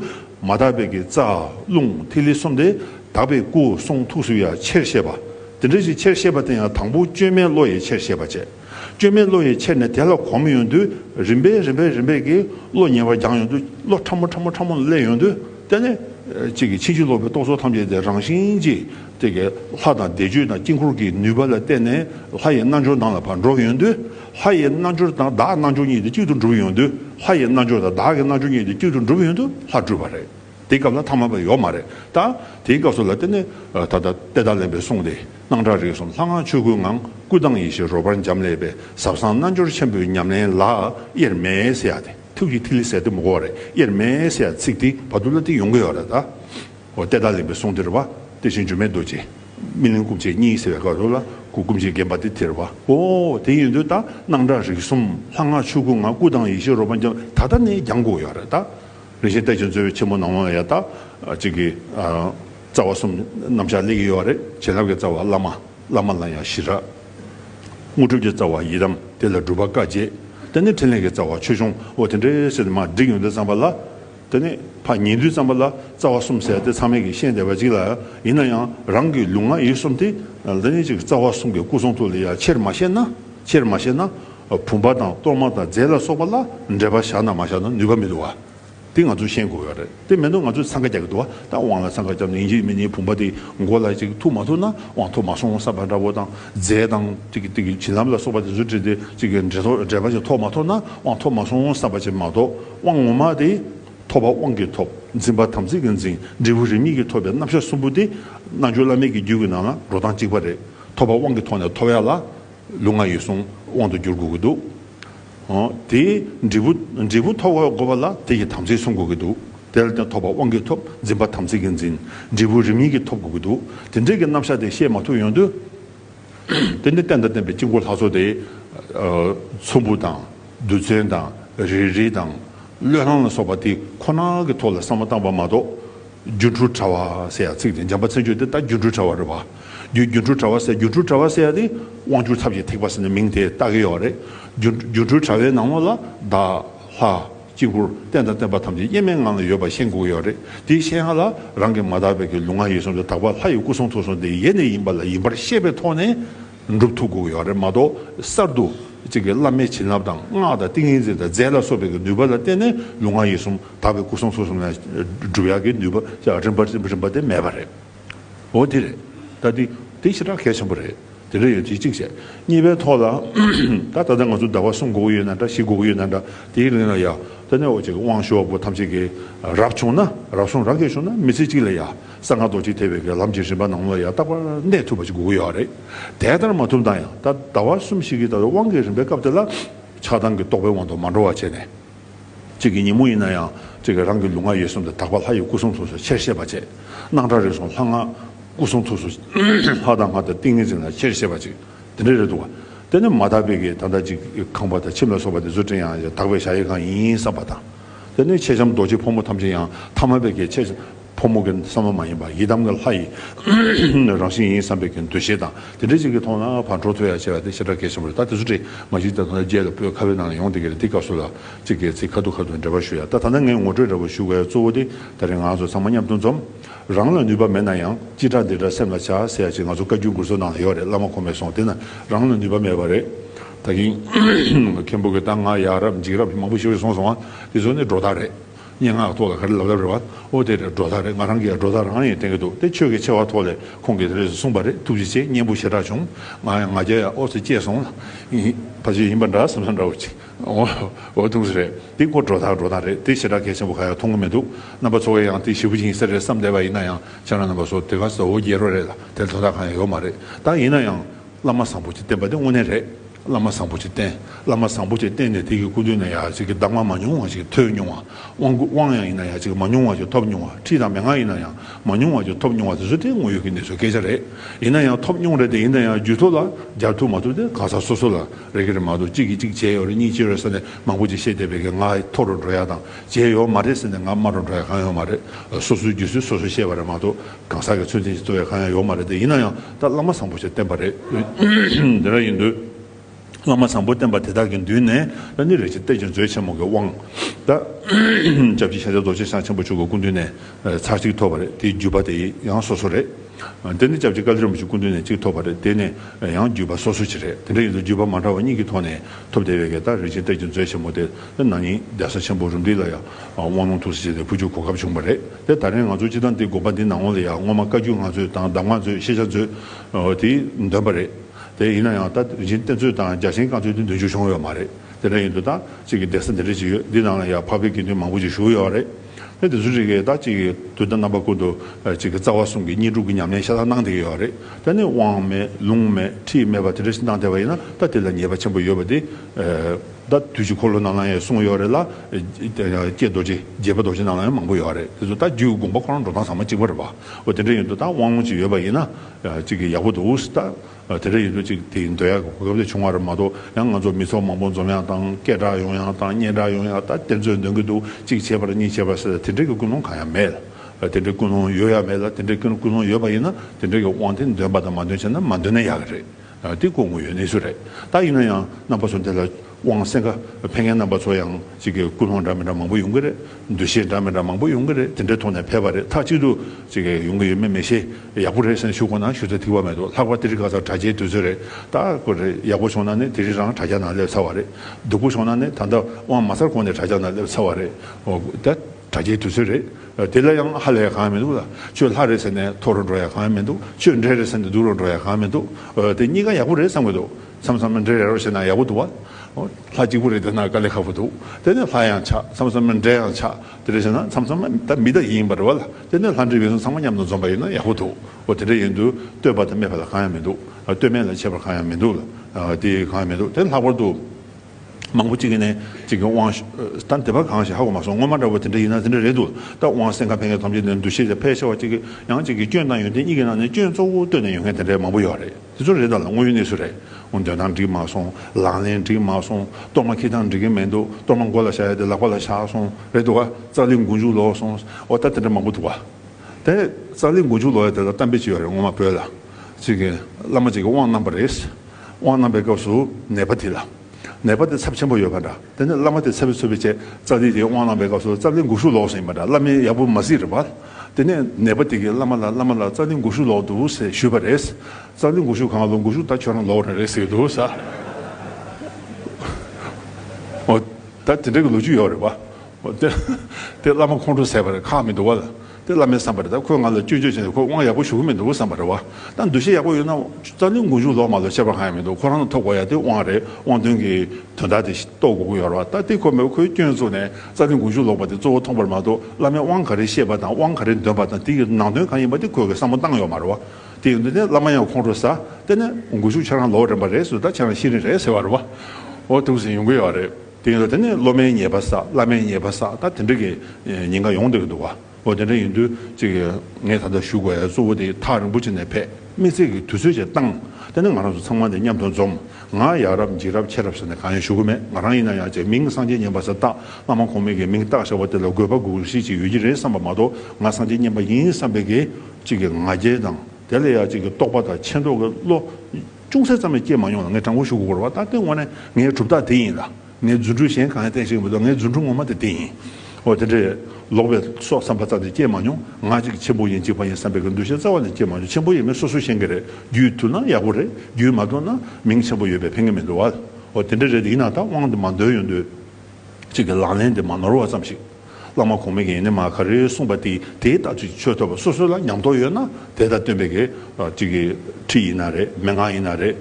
A: མ་དག་པའི་གི་རྩ་རླུང་ཐིག་ལེ་གསུམ་དེ་དག་པའི་སྐུ་གསུང་ཐུགས་སུ་ཡང་ཆེར་བཤད་པ་དེ་འདྲ་ཞིག་ཆེར་ཤེས་པ་དེ་ཡང་དང་པོ་བཅོས་མའི་བློ་ཡིས་ཆེར་ཤེས་པ་བྱེད། བཅོས་མའི་བློ་ཡིས་ཆེར་ནས་དེ་ལ་གོམས་ཡོང་དུས་རིམ་པས་རིམ་པས་རིམ་པས་ཀྱིས་བློ་ཉེ་བར་སྦྱངས་ཡོང་དུས་བློ་ཕྲ་མོ་ཕྲ་མོ་ཕྲ་མོ་བསླད་ཡོང་དུས་དེ་ནས། གཅིག་གིས་ཕྱིན་ཅི་ལོག་པའི་རྟོག་ཚོགས་ཐམས་ཅད་དེ་རང་བཞིན་གྱིས་དེ་ཀའི་ལྷ་དང་བཟླས་བརྗོད་དང་དཀྱིལ་འཁོར་གྱི་ནུས་པ་ལ་བརྟེན་ནས་ལྷ་ཡི་རྣལ་འབྱོར་དང་ལ་བར་འགྲོ་ཡོང་དུས་ལྷ་ཡི་རྣལ་འབྱོར་དང་བདག་རྣལ་འབྱོར་གཉིས་དེ་གཅིག་ཏུ་འགྲུབ་ཡོང་དུས་ལྷ་ཡི་རྣལ་འབྱོར་དང་བདག་གི་རྣལ་འབྱོར་གཉིས་དེ་གཅིག་ཏུ་འགྲུབ་ཡོང་དུས་ལྷ་གྲུབ་པ་རེད། དེའི་སྐབས་ལ་ཐ་མལ་པ་ཡོག་མ་རེད་ད། དེའི་སྐབས་སུ་ལ་དེ་ནི་ད་ལྟ་དཔེ་དག་ལེན་པའི་གསུང་དེ་སྣང་གྲགས་རིགས་གསུམ་ལྷ་སྔགས་ཆོས་སྐུའི་ངང་སྐུ་དང་ཡེ་ཤེས་རོལ་པར་འབྱམས་ཀླས་པའི་ཟབ་གསང་རྣལ་འབྱོར་ཆེན་པོའི་ཉམས་ལེན་ལ་དབྱེར་མེད་སེ་ཡ་དེ་ཐུགས་ཀྱི་ཐིག་ལེ་ཟད་དེ་མུག་བ་རེད་དབྱེར་མེད་སེ་ཡ་ཚིག་དེ་བར་དུ་ལ་དེ་ཡོང་གི་ཡོག་རེད་ད། འོ་དཔེ་དག་ལེན་པའི་གསུང་དེ་རེད་བ། དེ་བཞིན་བརྗོད་མེད་རྡོ་རྗེ་སྨིན་གླིང་སྐུ་བཅས་གཉིས་ཟེར་བའི་སྐབས་སུ་ལ་སྐུ་སྐུ་བཅས་བརྒྱན་པ་དེ་དེ་རེད་བ། འོ་དེ་ཡིན་དུས་ད་སྣང་གྲགས་རིགས་གསུམ་ལྷ་སྔགས་ཆོས་སྐུའི་ངང་སྐུ་དང་ཡེ་ཤེས་རོལ་པར་འབྱམས་ད་ལྟ་ནས་ཀྱང་གོ་གི་ཡོག་རེད་ད། རིན་ཆེན་གཏེར་གྱི་མཛོད་བའི་ཆེན་མོ་ནག་མོ་ཡ་ད་ཅིག་གི། རྩ་བ་གསུམ་རྣམ་གཞག་ལས་ཀྱི་ཡོ་བ་རེ་བྱེད་རབ་ཀྱི་རྩ་བ་བླ་མ་བླ་མ་ལ་ཡང་ཞི་རབ། དངོས་གྲུབ་ཀྱི་རྩ་བ་ཡི་དམ་དེ་ལ་སྒྲུབ་པ་བཀའ་རྗེ། དེ་ནས་ཕྲིན་ལས་ཀྱི་རྩ་བ་ཆོས་འབྱུང་འོ་དེ་འདྲའི་སེ་ན་མ་བསྒྲིགས་ཡོན་ཏན་བརྩམས་པ་ལ། དེ་ནས་ཕ་ཉིན་བདུན་བརྩམས་པ་ལ་རྩ་བ་གསུམ་བསལ་ཏེ་ཚང་མས་ཀྱི་ཤན་བསྡད་པ་ཅིག་ལ་ཡིན་ན་ཡང་རང་གི་ལུས་ངག་ཡིད་གསུམ་སྟེ། དེ་ནས་ཅིག་རྩ་བ་གསུམ་གྱི་སྐུ་གསུང་ཐུགས་ལ་ཡང་ཆེར་མ་བཤད་ན། ཆེར་མ་བཤད་ན། བུམ་པ་དང་གཏོར་མ་དང་རྫས་ལ་སོགས་པ་ལ་འབྲེལ་པ་བཞག་ན་མ་བཞག་ན་ནུས་པ་མི་འདུག་བ། དེ་ང་ཚོས་ཤེས་དགོས་བ་རེད་དེ་མེད་ན་ང་ཚོས་འཚང་ཁ་རྒྱག་གི་འདུག་བ་ད་དབང་ལ་འཚང་ཁ་རྒྱབ་ན་ཡིན་གཅིག་མིན་གཉིས་བུམ་པ་དེ་མགོ་ལ་ཅིག་ཐུག་མ་ཐུག་ན་དབང་ཐོབ་མ་སོང་བསམ་པ་འདྲ་བོ་དང་རྫས་དང་བྱིན་རླབས་ལ་སོགས་པ་དེ་ཚོ་བྲིས་ཏེ་ཅིག་འབྲེལ་པ་ཅིག་ཐོབ་མ་ཐོབ་ན་དབང་ཐོབ་མ་སོང་བསམ་པ་ཅིག་མ་གཏོགས་དབང་ངོ་མ་དེ་ཐོབ་པ་དབང་གིས་ཐོབ་འཛིན་པ་དམ་ཚིག་གིས་འཛིན་འབྲས་བུ་རིས་མེད་ཀྱིས་ཐོབ་པའི་རྣམ་གཞག་གསུམ་པོ་དེ་རྣལ་འབྱོར་བླ་མེད་ཀྱི་རྒྱུད་ཀྱི་ནང་ན་འགྲོ་སྟངས་གཅིག་པ་རེད་ཐོབ་པ་དབང་གིས་ཐོབ་ནས་ཐོབ་ཡག་ལ། ལུག་ང་ཡོད་སོང་དབང་དུ་འགྱུར་དགོས་ཀྱི་འདུག་དེ། འབྲས་བུ་འབྲས་བུ་ཐོབ་དགོས་པ་ལ་དེ་ཡི་དམ་ཚིག་སྲུང་དགོས་ཀྱི་འདུག་དེ་ལ་དེ་ཐོབ་པ་དབང་གིས་ཐོབ་འཛིན་པ་དམ་ཚིག་གིས་འཛིན། འབྲས་བུ་རིམ་གཉིས་ཀྱིས་ཐོབ་དགོས་ཀྱི་འདུག་དེ་འབྲས་ཀྱི་རྣམ་གཞག་དེ་བཤད་མ་ཐུབ་ཡོང་དུས། དེ་ནི་བསྟན་དང་བསྟན་པའི་དཀྱིལ་འཁོར་ལྷ་ཚོགས་དེ། ཚོམ་བུ་དང་རྡུལ་ཚོན་དང་རེ་རེ་དང། བློས་བསླངས་ལ་སོགས་པ་དེ་ཁོ་ན་གྱི་ཐོག་ལ་བསམ་བློ་བཏང་བ་མ་གཏོགས། སྒྱུ་འཕྲུལ་དྲ་བ་ཟེར་ཡག་ཚིག་དེ་འཇམ་པ་མཚན་བརྗོད་དེ་ད་སྒྱུ་འཕྲུལ་དྲ་བ་རེད་བ། རྒྱུ་སྒྱུ་འཕྲུལ་དྲ་བ་ཟེར་སྒྱུ་འཕྲུལ་དྲ་བ་ཟེར་ཡག་དེ་དབང་བསྒྱུར་ཐབས་ཀྱི་ཐིགས་པ་ཟེར་ནས་མིང་དེ་བཏགས་ཀྱི་ཡོད་རེད། སྒྱུ་སྒྱུ་འཕྲུལ་དྲ་བའི་ནང་ལོགས་ལ་བདག། ལྷ། གཅིག་པུར་རྟེན་དང་བརྟེན་པ་ཐམས་ཅད་དབྱེར་མེད་ངང་ལ་ཡོད་པ་ཤེས་འགུགས་ཡོད་རེད་དེ་ཤེས་ཡག་ལ་རང་གི་མ་དག་པའི་གི་ལུས་ངག་ཡིད་གསུམ་དུ་དག་པ་ལྷ་ཡི་སྐུ་གསུང་ཐུགས་གསུང་དེ་ཡེ་ནས་ཡིན་པ་ལ་ཡིན་པར་ཤེས་པའི་ཐོག་ནས་འགྲུབ་ཐུབ་དགོས་ཡོད་རེད་མ་གཏོགས་གསར་དུ་གཅིག་གིས་བླ་མའི་བྱིན་རླབས་དང་སྔགས་དང་ཏིང་ངེ་འཛིན་དང་རྫས་ལ་སོགས་པའི་ནུས་པ་ལ་བརྟེན་ནས་ལུས་ངག་ཡིད་གསུམ་དག་གི་སྐུ་གསུང་ཐུགས་གསུམ་ལ་སྒྲུབ་ཡག་གི་ནུས་པ་རིམ་པ་རིམ་པ་དེ་མེད་པ་རེད། འོ་དེ་རེད་ད། དེ་དེ་ཞེ་དྲག་གལ་ཆེན་པོ་རེད། དེ་འདྲ་ཡོད་དེ་གཅིག་བྱས། གཉིས་པའི་ཐོག་ལ། ད་ད་ལྟ་ང་ཚོ་ཟླ་བ་གསུམ་འགོར་གྱི་ཡོད་ན་འདྲ་བཞི་འགོར་གྱི་ཡོད་ན་འདྲ་དེའི་རིང་ལ་ཡ། ད་ནས་འོ་ཅེ་གི་དབང་ཤོག་བུ་ཐམས་ཅད་ཀྱི་རབ་བྱུང་ན་རབ་བྱུང་རང་སྐད་བྱུང་ན་མི་ཚེ་གཅིག་ལ་ཡ། གསང་སྔགས་རྡོ་རྗེ་ཐེག་པའི་སྒེར་ལམ་གྱི་རིམ་པ་ནང་ལོ་ཡང་རྟག་པར་གནས་ཐུབ་པ་ཅིག་དགོས་ཀྱི་ཡོད་རེད། དེ་ལྟར་མ་ཐུབ་ན་ཡང་ད་ཟླ་བ་གསུམ་ཞིག་གི་ད་དོ་དབང་གི་རིམ་པའི་སྐབས་དེ་ལ་ཆགས་སྡང་གི་རྟོག་པའི་དབང་དུ་མ་འགྲོ་བ་བྱས་ནས། གཅིག་གི་ཉིན་མོ་ཡིན་ན་ཡང་གཅིག་གི་རང་གི་ལུས་ངག་ཡིད་གསུམ་དུ་དག་པ་ལྷ་ཡི་སྐུ་གསུང་ཐུགས་སུ་ཆེར་ཤེས་པ་ཅིག་སྣང་གྲགས་རེ་ཟུང་ལྷ་སྔགས་སྐུ་གསུང་ཐུགས་སུ་ལྷ་དང་སྔགས་དང་ཏིང་ངེ་འཛིན་ལ་ཆེར་ཤེས་པ་ཅིག་དེ་འདྲ་རེད་འདུག་དེ་ནི་མ་དག་པའི་གི་ད་ལྟ་གཅིག་གི་ཁང་པ་དང་ཁྱིམ་ལ་སོགས་པ་དེ་ཚུལ་ཁྲིམས་ཡང་དག་པའི་བྱ་ཡི་གང་ཡིན་བསམ་པ་དང། དེ་ནས་མཆེད་ལྕམ་རྡོ་རྗེ་ཕོ་མོ་ཐམས་ཅད་ཡང་ཐ་མལ་པའི་གེགས་བྱེད། ཕོ་མོ་གི་བསམ་བ་མ་ཡིན་པ་ཡི་དམ་གྱི་ལྷ་ཡི་རང་བཞིན་ཡིན་བསམ་པའི་གེགས་འདུ་བྱེད་དང་དེ་འདྲའི་ཅིག་གིས་མཐོང་ན་བར་འཕྲོ་མཐོ་ཡང་ཆེ་བ་སྟེ་ཤ་ཁྲག་གེགས་ཆེན་པོ་རེད་ད་དེ་ཚོ་དྲི་མ་ཞིག་ལྟ་ཐོག་ན་རྒྱལ་ལ་པོའི་ཁ་བའི་ནང་ལ་ཡོང་དེ་གི་རེད་དེ་སྐབས་སུ་ལ་ཅིག་གེགས་ཚིག་ཁ་ཐུག་ཁ་ཐུག་འགྲེལ་བར་ཞུ་ཡ་ད་ད་ནི་ངས་ངོ་སྤྲོད་འདྲ་པོ་ཞུ་བའི་གཙོ་བོ་དེ་ད་རེས་ང་ཚོ་ཚང་མ་མཉམ་དུ་འཛོམས། རང་ལ་ནུས་པ་མེད་ན་ཡང་ཅི་དྲག་འདི་དྲག་སེམས་ལ་བྱ་ཟེར་ཡ་ཅིག་ང་ཚོ་བཀའ་རྒྱུད་མགུར་ཚོ་ནང་ལ་ཡོད་རེད་བླ་མ་ཁོང་མེད་སོང་དེ་ན་རང་ལ་ནུས་པ་མེད་པ་རེད། ད་གིན་མཁན་པོ་གི་ད་ང་ཡ་རབས་འཇིག་རབས་མང་པོ་ཤི་བོས་སོང་སོང་བ་དེ་ཚོ་ནི་སྒྲོ་བཏགས་རེད་སྙན་ངག་གི་ཐོག་ལ་ག་རེ་ལབ་ལབ་རེད་བ་ཨོ་དེ་རེད་སྒྲོ་བཏགས་རེད་ང་རང་གི་ཡང་སྒྲོ་བཏགས་རང་ཡིན་བསྟན་གི་འདུག་དེ་ཆོས་ཀྱི་ཆེ་བ་ཐོག་ལས་ཁོང་གིས་དེ་རེད་གསུངས་པ་རེད་ཐུགས་རྗེ་ཆེ་སྙན་པོ་ཞེ་དྲག་བྱུང་ང་ཡང་ང་རྒྱལ་ཡ་ཨོ་སི་སྐྱེས་སོང་ལ་ཕ་ཆོས་ཡིན་པ་འདྲ་བསམ་ས་འདྲ་བོ་ཅིག་ཨོ་ཨོ་ཐུགས་རྗེ་རེད་དེ་སྐོར་སྒྲོ་བཏགས་སྒྲོ་བཏགས་རེད་དེ་ཞེ་དྲག་གལ་ཆེན་པོ་ག་ཡང་མཐོང་གི་མི་འདུག་རྣམ་པ་ཚོ་ག་ཡང་དེ་ཞི་བུ་སྦྱིན་སྲེག་རེད་བསམ་བསྡད་པ་ཡིན་ན་ཡང་ཆ་ར་རྣམ་པ་ཚོ་དེ་ག་ཟ་འོ་རྒྱལ་རོ་རེད་ལ་དེར་དོ་བདག་གང་ཡང་ཡོད་མ་རེད་ད་ཡིན་ན་ཡང། བླ་མ་བཟང་པོ་གཅིག་བསྟེན་པ་དེ་དངོས་གནས་རེད། བླ་མ་བཟང་པོ་གཅིག་བསྟེན། བླ་མ་བཟང་པོ་གཅིག་བསྟེན་ནས་དེ་གི་སྐུ་མདུན་ན་ཡག་ཅིག་གི་གདམས་ངག་མ་ཉུང་བ་ཞིག་ཐོས་མྱོང་བ། དབང་སྐུར་དབང་ཡང་ཡིན་ན་ཡག་ཅིག་གི་མ་ཉུང་བ་ཞིག་ཐོབ་མྱོང་བ། ཁྲིད་དང་མན་ངག་ཡིན་ན་ཡང་མ་ཉུང་བ་ཞིག་ཐོབ་མྱོང་བ་དེ་ཚོ་དེ་དངོས་ཡོད་ཀྱི་གནས་ཚུལ་སྐད་ཆ་རེད། ཡིན་ན་ཡང་ཐོབ་མྱོང་རེད་དེ་ཡིན་ན་ཡང་རྒྱུད་ཚོགས་ལ་སྦྱར་ཐུབ་མ་ཐུབ་དེ་གང་ཟག་སོ་སོ་ལ་རེག་གི་རེད་མ་གཏོགས་གཅིག་གིས་གཅིག་བྱས་ཡོད་རེད་གཉིས་བྱས་ཡོད་ས་ནས་མང་པོ་ཅིག་བཤད་བསྡད་པས་ཀྱི་ང་ཐོག་རུ་འགྲོ་ཡག་དང་བྱས་ཡོད་མ་རེད་ཟེར་ནས་ང་སྨྲ་རུ་འགྲོ་ཡག་གང་ཡོད་མ་རེད། སོ་སོའི་རྒྱུད་ཚོད་སོ་སོས་ཤེས་པ་རེད་མ་གཏོགས་གང་ཟག་གི་ཚུལ་འཛིན་གྱི་རྩོལ་བས་གང་ཡང་ཡོད་མ་རེད་དེ་ཡིན་ན་ཡང་ད་བླ་མ་བཟང་པོ་ཞེས་བསྟན་པ་རེད་འདི་འདྲ་ཡིན་དུས། བླ་མ་བཟང་པོ་བསྟན་པ་དེ་དག་གི་མདུན་ནས་ད་ནི་རེ་ཆེ་གཏད་ཅིང་མཛོད་ཆེན་མོ་གི་དབང། ད་སྐྱབས་ཀྱི་ཤཱཀྱ་རྡོ་རྗེ་འཆང་ཆེན་པོ་བཅུ་གི་སྐུ་མདུན་ནས་ཚར་གཅིག་ཐོབ་པ་རེད་དེའི་བརྒྱུད་པ་དེ་ཡང་སོ་སོ་རེད། འདི་ནི་སྐྱབས་ཀྱི་བཀའ་ལས་རིན་པོ་ཆེ་སྐུ་མདུན་ནས་གཅིག་ཐོབ་པ་རེད་དེ་ནི་ཡང་བརྒྱུད་པ་སོ་སོ་གཅིག་རེད་དེ་འདྲ་ཡིན་དུས་བརྒྱུད་པ་མ་འདྲ་བ་གཉིས་ཀྱི་ཐོག་ནས་ཐོབ་བསྡད་པའི་གེ་ད་རེ་ཆེ་གཏད་ཅིང་མཛོད་ཆེན་མོ་དེ་ན་ནི་རྡ་ས་ཆེན་པོ་རུ་འདི་ལ་ཡང། དབང་ལུང་ཐུགས་སུ་བཅད་དེ་ཕུལ་རྒྱུའི་གོ་སྐབས་བྱུང་བ་རེད་དེ་ད་རེས་ང་ཚོ་སྤྱི་བཏང་འདི་དགོངས་པ་འདི་ནང་ལོགས་ལ་ཡང་སྔོན་མ་བཀའ་བརྒྱུད་ང་ཚོས་དང་གདམས་ངག་མཛོད་ཤེས་བྱ་མཛོད། དེ་འདོན་པ་རེད་དེ་ཡིན་ན་ཡང་ད་རིན་ཆེན་བསྟན་མཛོད་དང་རྒྱ་ཆེན་བཀའ་མཛོད་འདི་འདོན་རྒྱུ་བྱུང་ཡོད་མ་རེད་དེ་འདྲ་ཡིན་དུས་ད་ཅིག་གི་གདན་ས་འདི་འདྲ་ཅིག་ཡོད་འདི་ནང་ལ་ཡང་འཕགས་པའི་དགེ་འདུན་མང་པོ་ཅིག་བཞུགས་ཡོད་རེད་དེ་དེ་ཚོ་རིགས་ཀྱིས་ད་ཅིག་གི་དུས་ད་རྣམ་པ་ཀུན་ཏུ་ཅིག་གི་རྩ་བ་གསུམ་གྱི་གཉིས་སྒྲུབ་ཀྱི་ཉམས་ལེན་ཤ་སྟག་གནང་བསྡད་ཀྱི་ཡོད་རེད་དེ་ནི་དབང་མེད་ལུང་མེད་ཁྲིད་མེད་པ་དེ་འདྲ་ཞིག་གནང་བསྡད་པ་ཡིན་ན་ད་དེ་ལ་ཉེས་པ་ཆེན་པོ་ཡོད་པ་དེ། ད་དུས་ཀྱི་འཁོར་ལོ་རྣམས་ལའང་ཡང་གསུང་ཡོད་རེད་ལ། ཀྱེ་རྡོ་རྗེ་རྒྱལ་པོ་རྡོ་རྗེ་རྣམས་ལའང་ཡང་མང་པོ་ཡོད་རེད་དེ་ཚོ་ད་རྒྱུད་ཀྱི་དགོངས་པ་ཁོ་རང་འགྲོ་སྟངས་ཚང་མ་གཅིག་པ་རེད་བ། འོ་དེ་འདྲ་ཡིན་དུ་ད་དབང་ལུང་ཅིག་ཡོད་པ་ཡིན་ན། ཅིག་གི་ཡག་པོ་འདུག་ད་དེ་འདྲ་ཡིན་དུ་ཅིག་དེ་འདོད་ཡག་གི་གོ་སྐབས་དེ་བྱུང་བ་རེད་མ་གཏོགས་ཡང་ང་ཚོ་མི་ཚོགས་མང་པོ་འཛོམས་ཡང་དང་སྐད་གྲགས་ཡོང་ཡང་དང་སྙན་གྲགས་ཡོང་ཡང་ད་དེ་ཚོས་འདོན་གྱི་འདུག་གཅིག་བྱས་པར་གཉིས་བྱས་པར་ཟེར་ད་དེ་འདྲ་གི་ཀུན་སློང་གང་ཡང་མེད། དེ་འདྲའི་ཀུན་སློང་ཡོད་ཡ་མེད་ལ་དེ་འདྲའི་ཀུན་སློང་ཡོད་པ་ཡིན་ན་དེ་འདྲ་གི་དབང་དེ་འདོན་པ་དང་མ་འདོན་བྱས་ན་མ་འདོན་ན་ཡག་གི་རེད། འདི་གོ་དགོས་ཡོད་གནས་ཚུལ་རེད་ད་ཡིན་ན་ཡང་རྣམ་པ་ཚོ་འདི་ལ་དབང་སེང་ཁ་འཕེན་མཁན་རྣམ་པ་ཚོ་ཡང་ཅིག་གིས་ཀུན་སློང་འདྲ་མི་འདྲ་མང་པོ་ཡོང་གི་རེད་འདུ་ཤེས་འདྲ་མི་འདྲ་མང་པོ་ཡོང་གི་རེད་དེ་འདྲའི་ཐོག་ནས་ཕེབས་པ་རེད་ཐག་གཅིག་ཏུ་ཅིག་གིས་ཡོང་གི་ཡོད་མེད་མི་ཤེས་ཡག་པོ་རེད་སེམས་ཤུགས་ཁོ་ན་ཞུ་ཚད་ཐིག་པ་མེད་འདུག་ལྷག་པར་ཏི་རི་ཁ་ཚར་དྲ་རྒྱའི་དུས་ཚོད་རེད་ད་ཁོ་རེ་ཡག་པོ་བྱུང་ན་ནི་དེ་རིང་རང་དྲ་རྒྱ་ནང་སླེབས་ཚར་བ་རེད་སྡུག་པོ་བྱུང་ན་ནི་ད་ལྟ་དབང་མ་ཚར་གོང་ནས་དྲ་རྒྱ་ནང་སླེབས་ཚར་བ་རེད་ད། དྲ་རྒྱའི་དུས་ཚོད་རེད། དེ་ལ་ཡང་ཧ་ལས་གང་ཡང་མི་འདུག་ལ། ཁྱོད་ལྷ་རེད་ཟེར་ནས་ཐོ་རུ་འགྲོ་ཡ་གང་ཡང་མི་འདུག་ཁྱོད་འདྲེ་རེད་ཟེར་ནས་སྡུག་རུ་འགྲོ་ཡ་གང་ཡང་མི་འདུག་དེ་གཉིས་ཀ་ཡག་པོ་རེད་བསམ་གྱི་འདུག་མཚམས་མཚམས་མི་འདྲེ་རེ་རོགས་བྱས་ན་ཡག་པོ་འདུག་བ། ལྷ་གཅིག་པུ་རེད་དེ་ན་དཀའ་ལས་ཁག་པོ་འདུག་དེ་ནས་ལྷ་ཡང་ཆགས་མཚམས་མཚམས་མི་འདྲེ་ཡང་ཆགས་དེ་རེད་བྱས་ན་མཚམས་མཚམས་ད་མི་ད་ཡིན་པ་རེད་བ་ལ་དེ་ནས་ལྷ་འདྲེ་བེ་ཟུང་ཚང་མ་མཉམ་དུ་འཛོམས་པ་ཡིན་ན་ཡག་པོ་འདུག་འོ་དེ་འདྲ་ཡིན་དུས་བསྟོད་པ་དང་སྨད་པ་ལ་གང་ཡང་མི་འདུག་བསྟོད་སྨད་ལ་ཆད་པ་གང་ཡང་མི་འདུག་ལ་དེ་གང་ཡང་མི་འདུག་དེ་ལྷག་པར་དུ། མང་པོ་གཅིག་གིས་ནས་གཅིག་གི་དབང། ད་འདི་པ་གང་ཞིག་ཧ་གོ་མ་སོང་སྔོན་མ་འདྲ་བོ་དེ་འདྲ་ཡིན་ན་དེ་འདྲ་རེད་འདུག་ད་དབང་སེང་ག་ཕལ་སྐད་ཐམས་ཅད་ནས་འདུ་ཤེས་དེ་ཕལ་ཆེ་བ་གཅིག་གི་ཡང་གཅིག་གི་སྐྱོན་དང་ཡོན་ཏན་གཉིས་ཀྱི་ནང་ནས་སྐྱོན་གཙོ་བོ་བཏོད་ནས་ཡོང་མཁན་དེ་འདྲ་མང་པོ་ཡོད་རེད་དེ་ཚོ་རེད་ད་ལ་དངོས་ཡོད་གནས་ཚུལ་རེད་འདོན་སྟངས་འགྲིག་མ་སོང་ལག་ལེན་འགྲིག་མ་སོང་གཏོར་མ་འཁྱིལ་སྟངས་འགྲིག་གི་མི་འདུག་གཏོར་མ་མགོ་ལ་བཞག་ཡ་དེ་ལག་པ་ལ་བཞག་སོང་རེད་འདུག་བ་ཙག་ལི་མགོ་མཇུག་ལོག་སོང་བ་ད་དེ་འདྲ་མང་པོ་འདུག་བ། དེ་ཙག་ལི་མགོ་མཇུག་ལོག་ཡ་དེ་ལ་གཏམ་དཔེ་གཅིག་ཡོད་རེད་སྔོན་མ་བོད་ལ། ཚིག་གི་བླ་མ་གཅིག་གི་དབང་རྣམ་པ་རེད། དབང་རྣམ་པའི་སྐབས་སུ་ནད་པ་དེ་ལ་ནད་པ་དེ་ཚབས་ཆེན་པོ་ཡོད་པ་འདྲ། དེ་ནས་བླ་མ་དེ་ཚབས་ཚུད་པའི་ཆེད་རྩ་འདི་དེའི་དབང་རྣམ་པའི་སྐབས་སུ་རྩ་འདི་འགུགས་ཤུགས་ལོག་ཟིན་པ་འདྲ་བླ་མའི་ཡག་པོ་མ་གཟིགས་རེད་པ། དེ་ནས་ནད་པ་དེ་གིས་བླ་མ་ལ་བླ་མ་ལ་རྩ་འདི་འགུགས་ཤུགས་ལོག་འདུག་ཟེར་ཞུས་པ་རེད། རྩ་འདི་འགུགས་ཤུགས་གང་ལོག་འགུགས་ཤུགས་ད་ཁྱོད་རང་ལོག་རེད་རེད་ཟེར་གྱི་འདུག་ཟ། འོ་ད་དེ་འདྲ་གི་ལོ་རྒྱུས་ཡོད་རེད་པ། དེ་བླ་མ་ཁོང་ཁྲོ་ཟད་པ་རེད་ཁག་མི་འདུག་བ་ལ། དེ་བླ་མའི་བསམ་པ་རེད་ད་ཁོས་ང་ལ་སྐྱོན་བརྗོད་བྱས་ནས་ཁོས་དབང་ཡག་པོ་ཞུ་གི་མི་འདུག་བསམ་པ་རེད་བ་ད་འདུ་ཤེས་ཡག་པོ་ཡོད་ན་རྩ་གླིང་དགུང་གཞུང་ལོག་མ་ལོག་ཁྱད་པར་གང་ཡང་མི་འདུག་ཁོ་རང་ལ་ཐོབ་དགོས་ཡ་དེ་དབང་རེད་དབང་དོན་གྱི་དོན་དག་དེ་རྟོགས་དགོས་ཀྱི་ཡོད་རེད་བ་ད་དེ་ཁོ་མོས་ཁོའི་སྐྱོན་བཙུགས་ནས་རྩ་གླིང་དགུང་གཞུང་ལོག་པ་དེ་གཙོ་བོ་མཐོང་པར་མ་གཏོགས་བླ་མས་དབང་ག་རེ་བཤད་པ་དང་དབང་ག་རེ་འདོན་པ་དང་དེ་ཡི་ནང་དོན་གང་ཡིན་པ་དེ་ཁོས་བསམ་བློ་བཏང་ཡོད་མ་རེད་བ་དེ་ཡིན་དུས་ནས་བླ་མ་ཡང་ཁོང་ཁྲོ་ཟ་དེ་ནས་དགུང་གཞུང་ཁྱེད་རང་ལོག་རན་པ་རེད་ཟོས་ད་ཁྱེད་རང་ཤེས་རིན་རེད་ཟེར་བ་རེད་བ་འོ་ཐུགས་ཟིན་ཡོང་གི་ཡོད་རེད། དེང་རབས་དེ་ནི་སློབ་མའི་ཉེས་པ་བསགས་བླ་མའི་ཉེས་པ་བསགས་ད་དེ་འདྲ་གི་ཉེན་ཁ་ཡོང་སྡོད་ཀྱི་འདུག་བ་ཨོ་དེ་འདྲ་ཡིན་དུས་ཅིག་ངས་ད་ལྟ་བཞུགས་དགོས་ཡ་གཙོ་བོ་དེ་ཐག་རིང་པོ་ཅིག་ནས་ཕེབས་དམིགས་བརྩེ་གི་དུས་ཚོད་ཅིག་བཏང་དེ་ནི་ང་རང་ཚོ་ཚང་མ་དེ་མཉམ་དུ་འཛོམས་ང་ཡག་རབས་འཇིགས་རབས་ཆེ་རབས་ཟེར་ནས་གང་ཡང་ཞུ་གི་མེད་ང་རང་ཡིན་ན་ཡང་ཅིག་མིང་སངས་རྒྱས་བསྙེན་པ་ཟེར་སྟག་བླ་མ་གོང་མས་ཀྱི་མིང་བཏགས་བཞག་པ་དེ་ལ་དགོས་པ་དགོས་གལ་ཤིག་ཅིག་ཡོད་ཀྱི་རེད་བསམ་པ་མ་གཏོགས་ང་སངས་རྒྱས་བསྙེན་པ་ཡིན་བསམ་པའི་གི་ཅིག་ང་རྒྱལ་དང་དེ་ལ་ཡང་ཅིག་གི་རྟོག་པ་དང་ཆེ་མདོག་གི་བློ་ཅུང་ཟད་ཙམ་ཡང་སྐྱེལ་མ་ཡོང་ལ་ངས་དྲང་པོ་ཞུ་དགོས་སྐོར་བ་ད་ལྟའི་དངོས་གནས་ངའི་གྲུབ་རྟགས་དེ་ཡིན་ལ། ངའི་རྫུ་འཕྲུལ་གཞན་གང་ཡང་བསྟན་ཤེས་ཀྱི་མི་འདུག་ལ་ངའི་རྫུ་འཕྲུལ་ངོ་མ་དེ་དེ་ཡིན། འོ་དེ་འདྲས། ལོག་པའི་སྲོག་བསམ་པ་རྩ་དེ་སྐྱེལ་མ་མྱོང། ང་གཅིག་ཆེན་པོ་ཡིན་གཅིག་པ་ཡིན་བསམ་པའི་གི་འདུ་ཤེས་རྩ་བ་ནས་སྐྱེལ་མ་མྱོང་ཆེན་པོ་ཡིན་མིན་སོ་སོས་ཤེས་གི་རེད་རྒྱུས་ཐུབ་ན་ཡག་པོ་རེད་རྒྱུས་མ་ཐུབ་ན་མིང་ཆེན་པོ་ཡོད་པས་ཕན་གི་མི་འདུག་བ། འོ་དེ་འདྲས་རེད་དེ་ཡིན་ན་ད་དབང་དེ་མ་འདོན་ཡོང་དུས། གཅིག་གི་ལག་ལེན་དེ་མ་ནོར་བ་ཙམ་ཞིག། བླ་མ་གོང་མས་ཡེ་ནས་མ་ག་རེ་གསུངས་པ་དེ་དེའི་ལྟ་ཚུལ་ཆོས་ཐོས་པ་སོ་སོ་ལ་ཉམས་རྟོགས་ཡོད་ན་དེ་ལྟར་སྟོན་པའི་གེ་ཁྲིད་ཡིན་ན་རེད་མན་ངག་ཡིན་ན་རེད་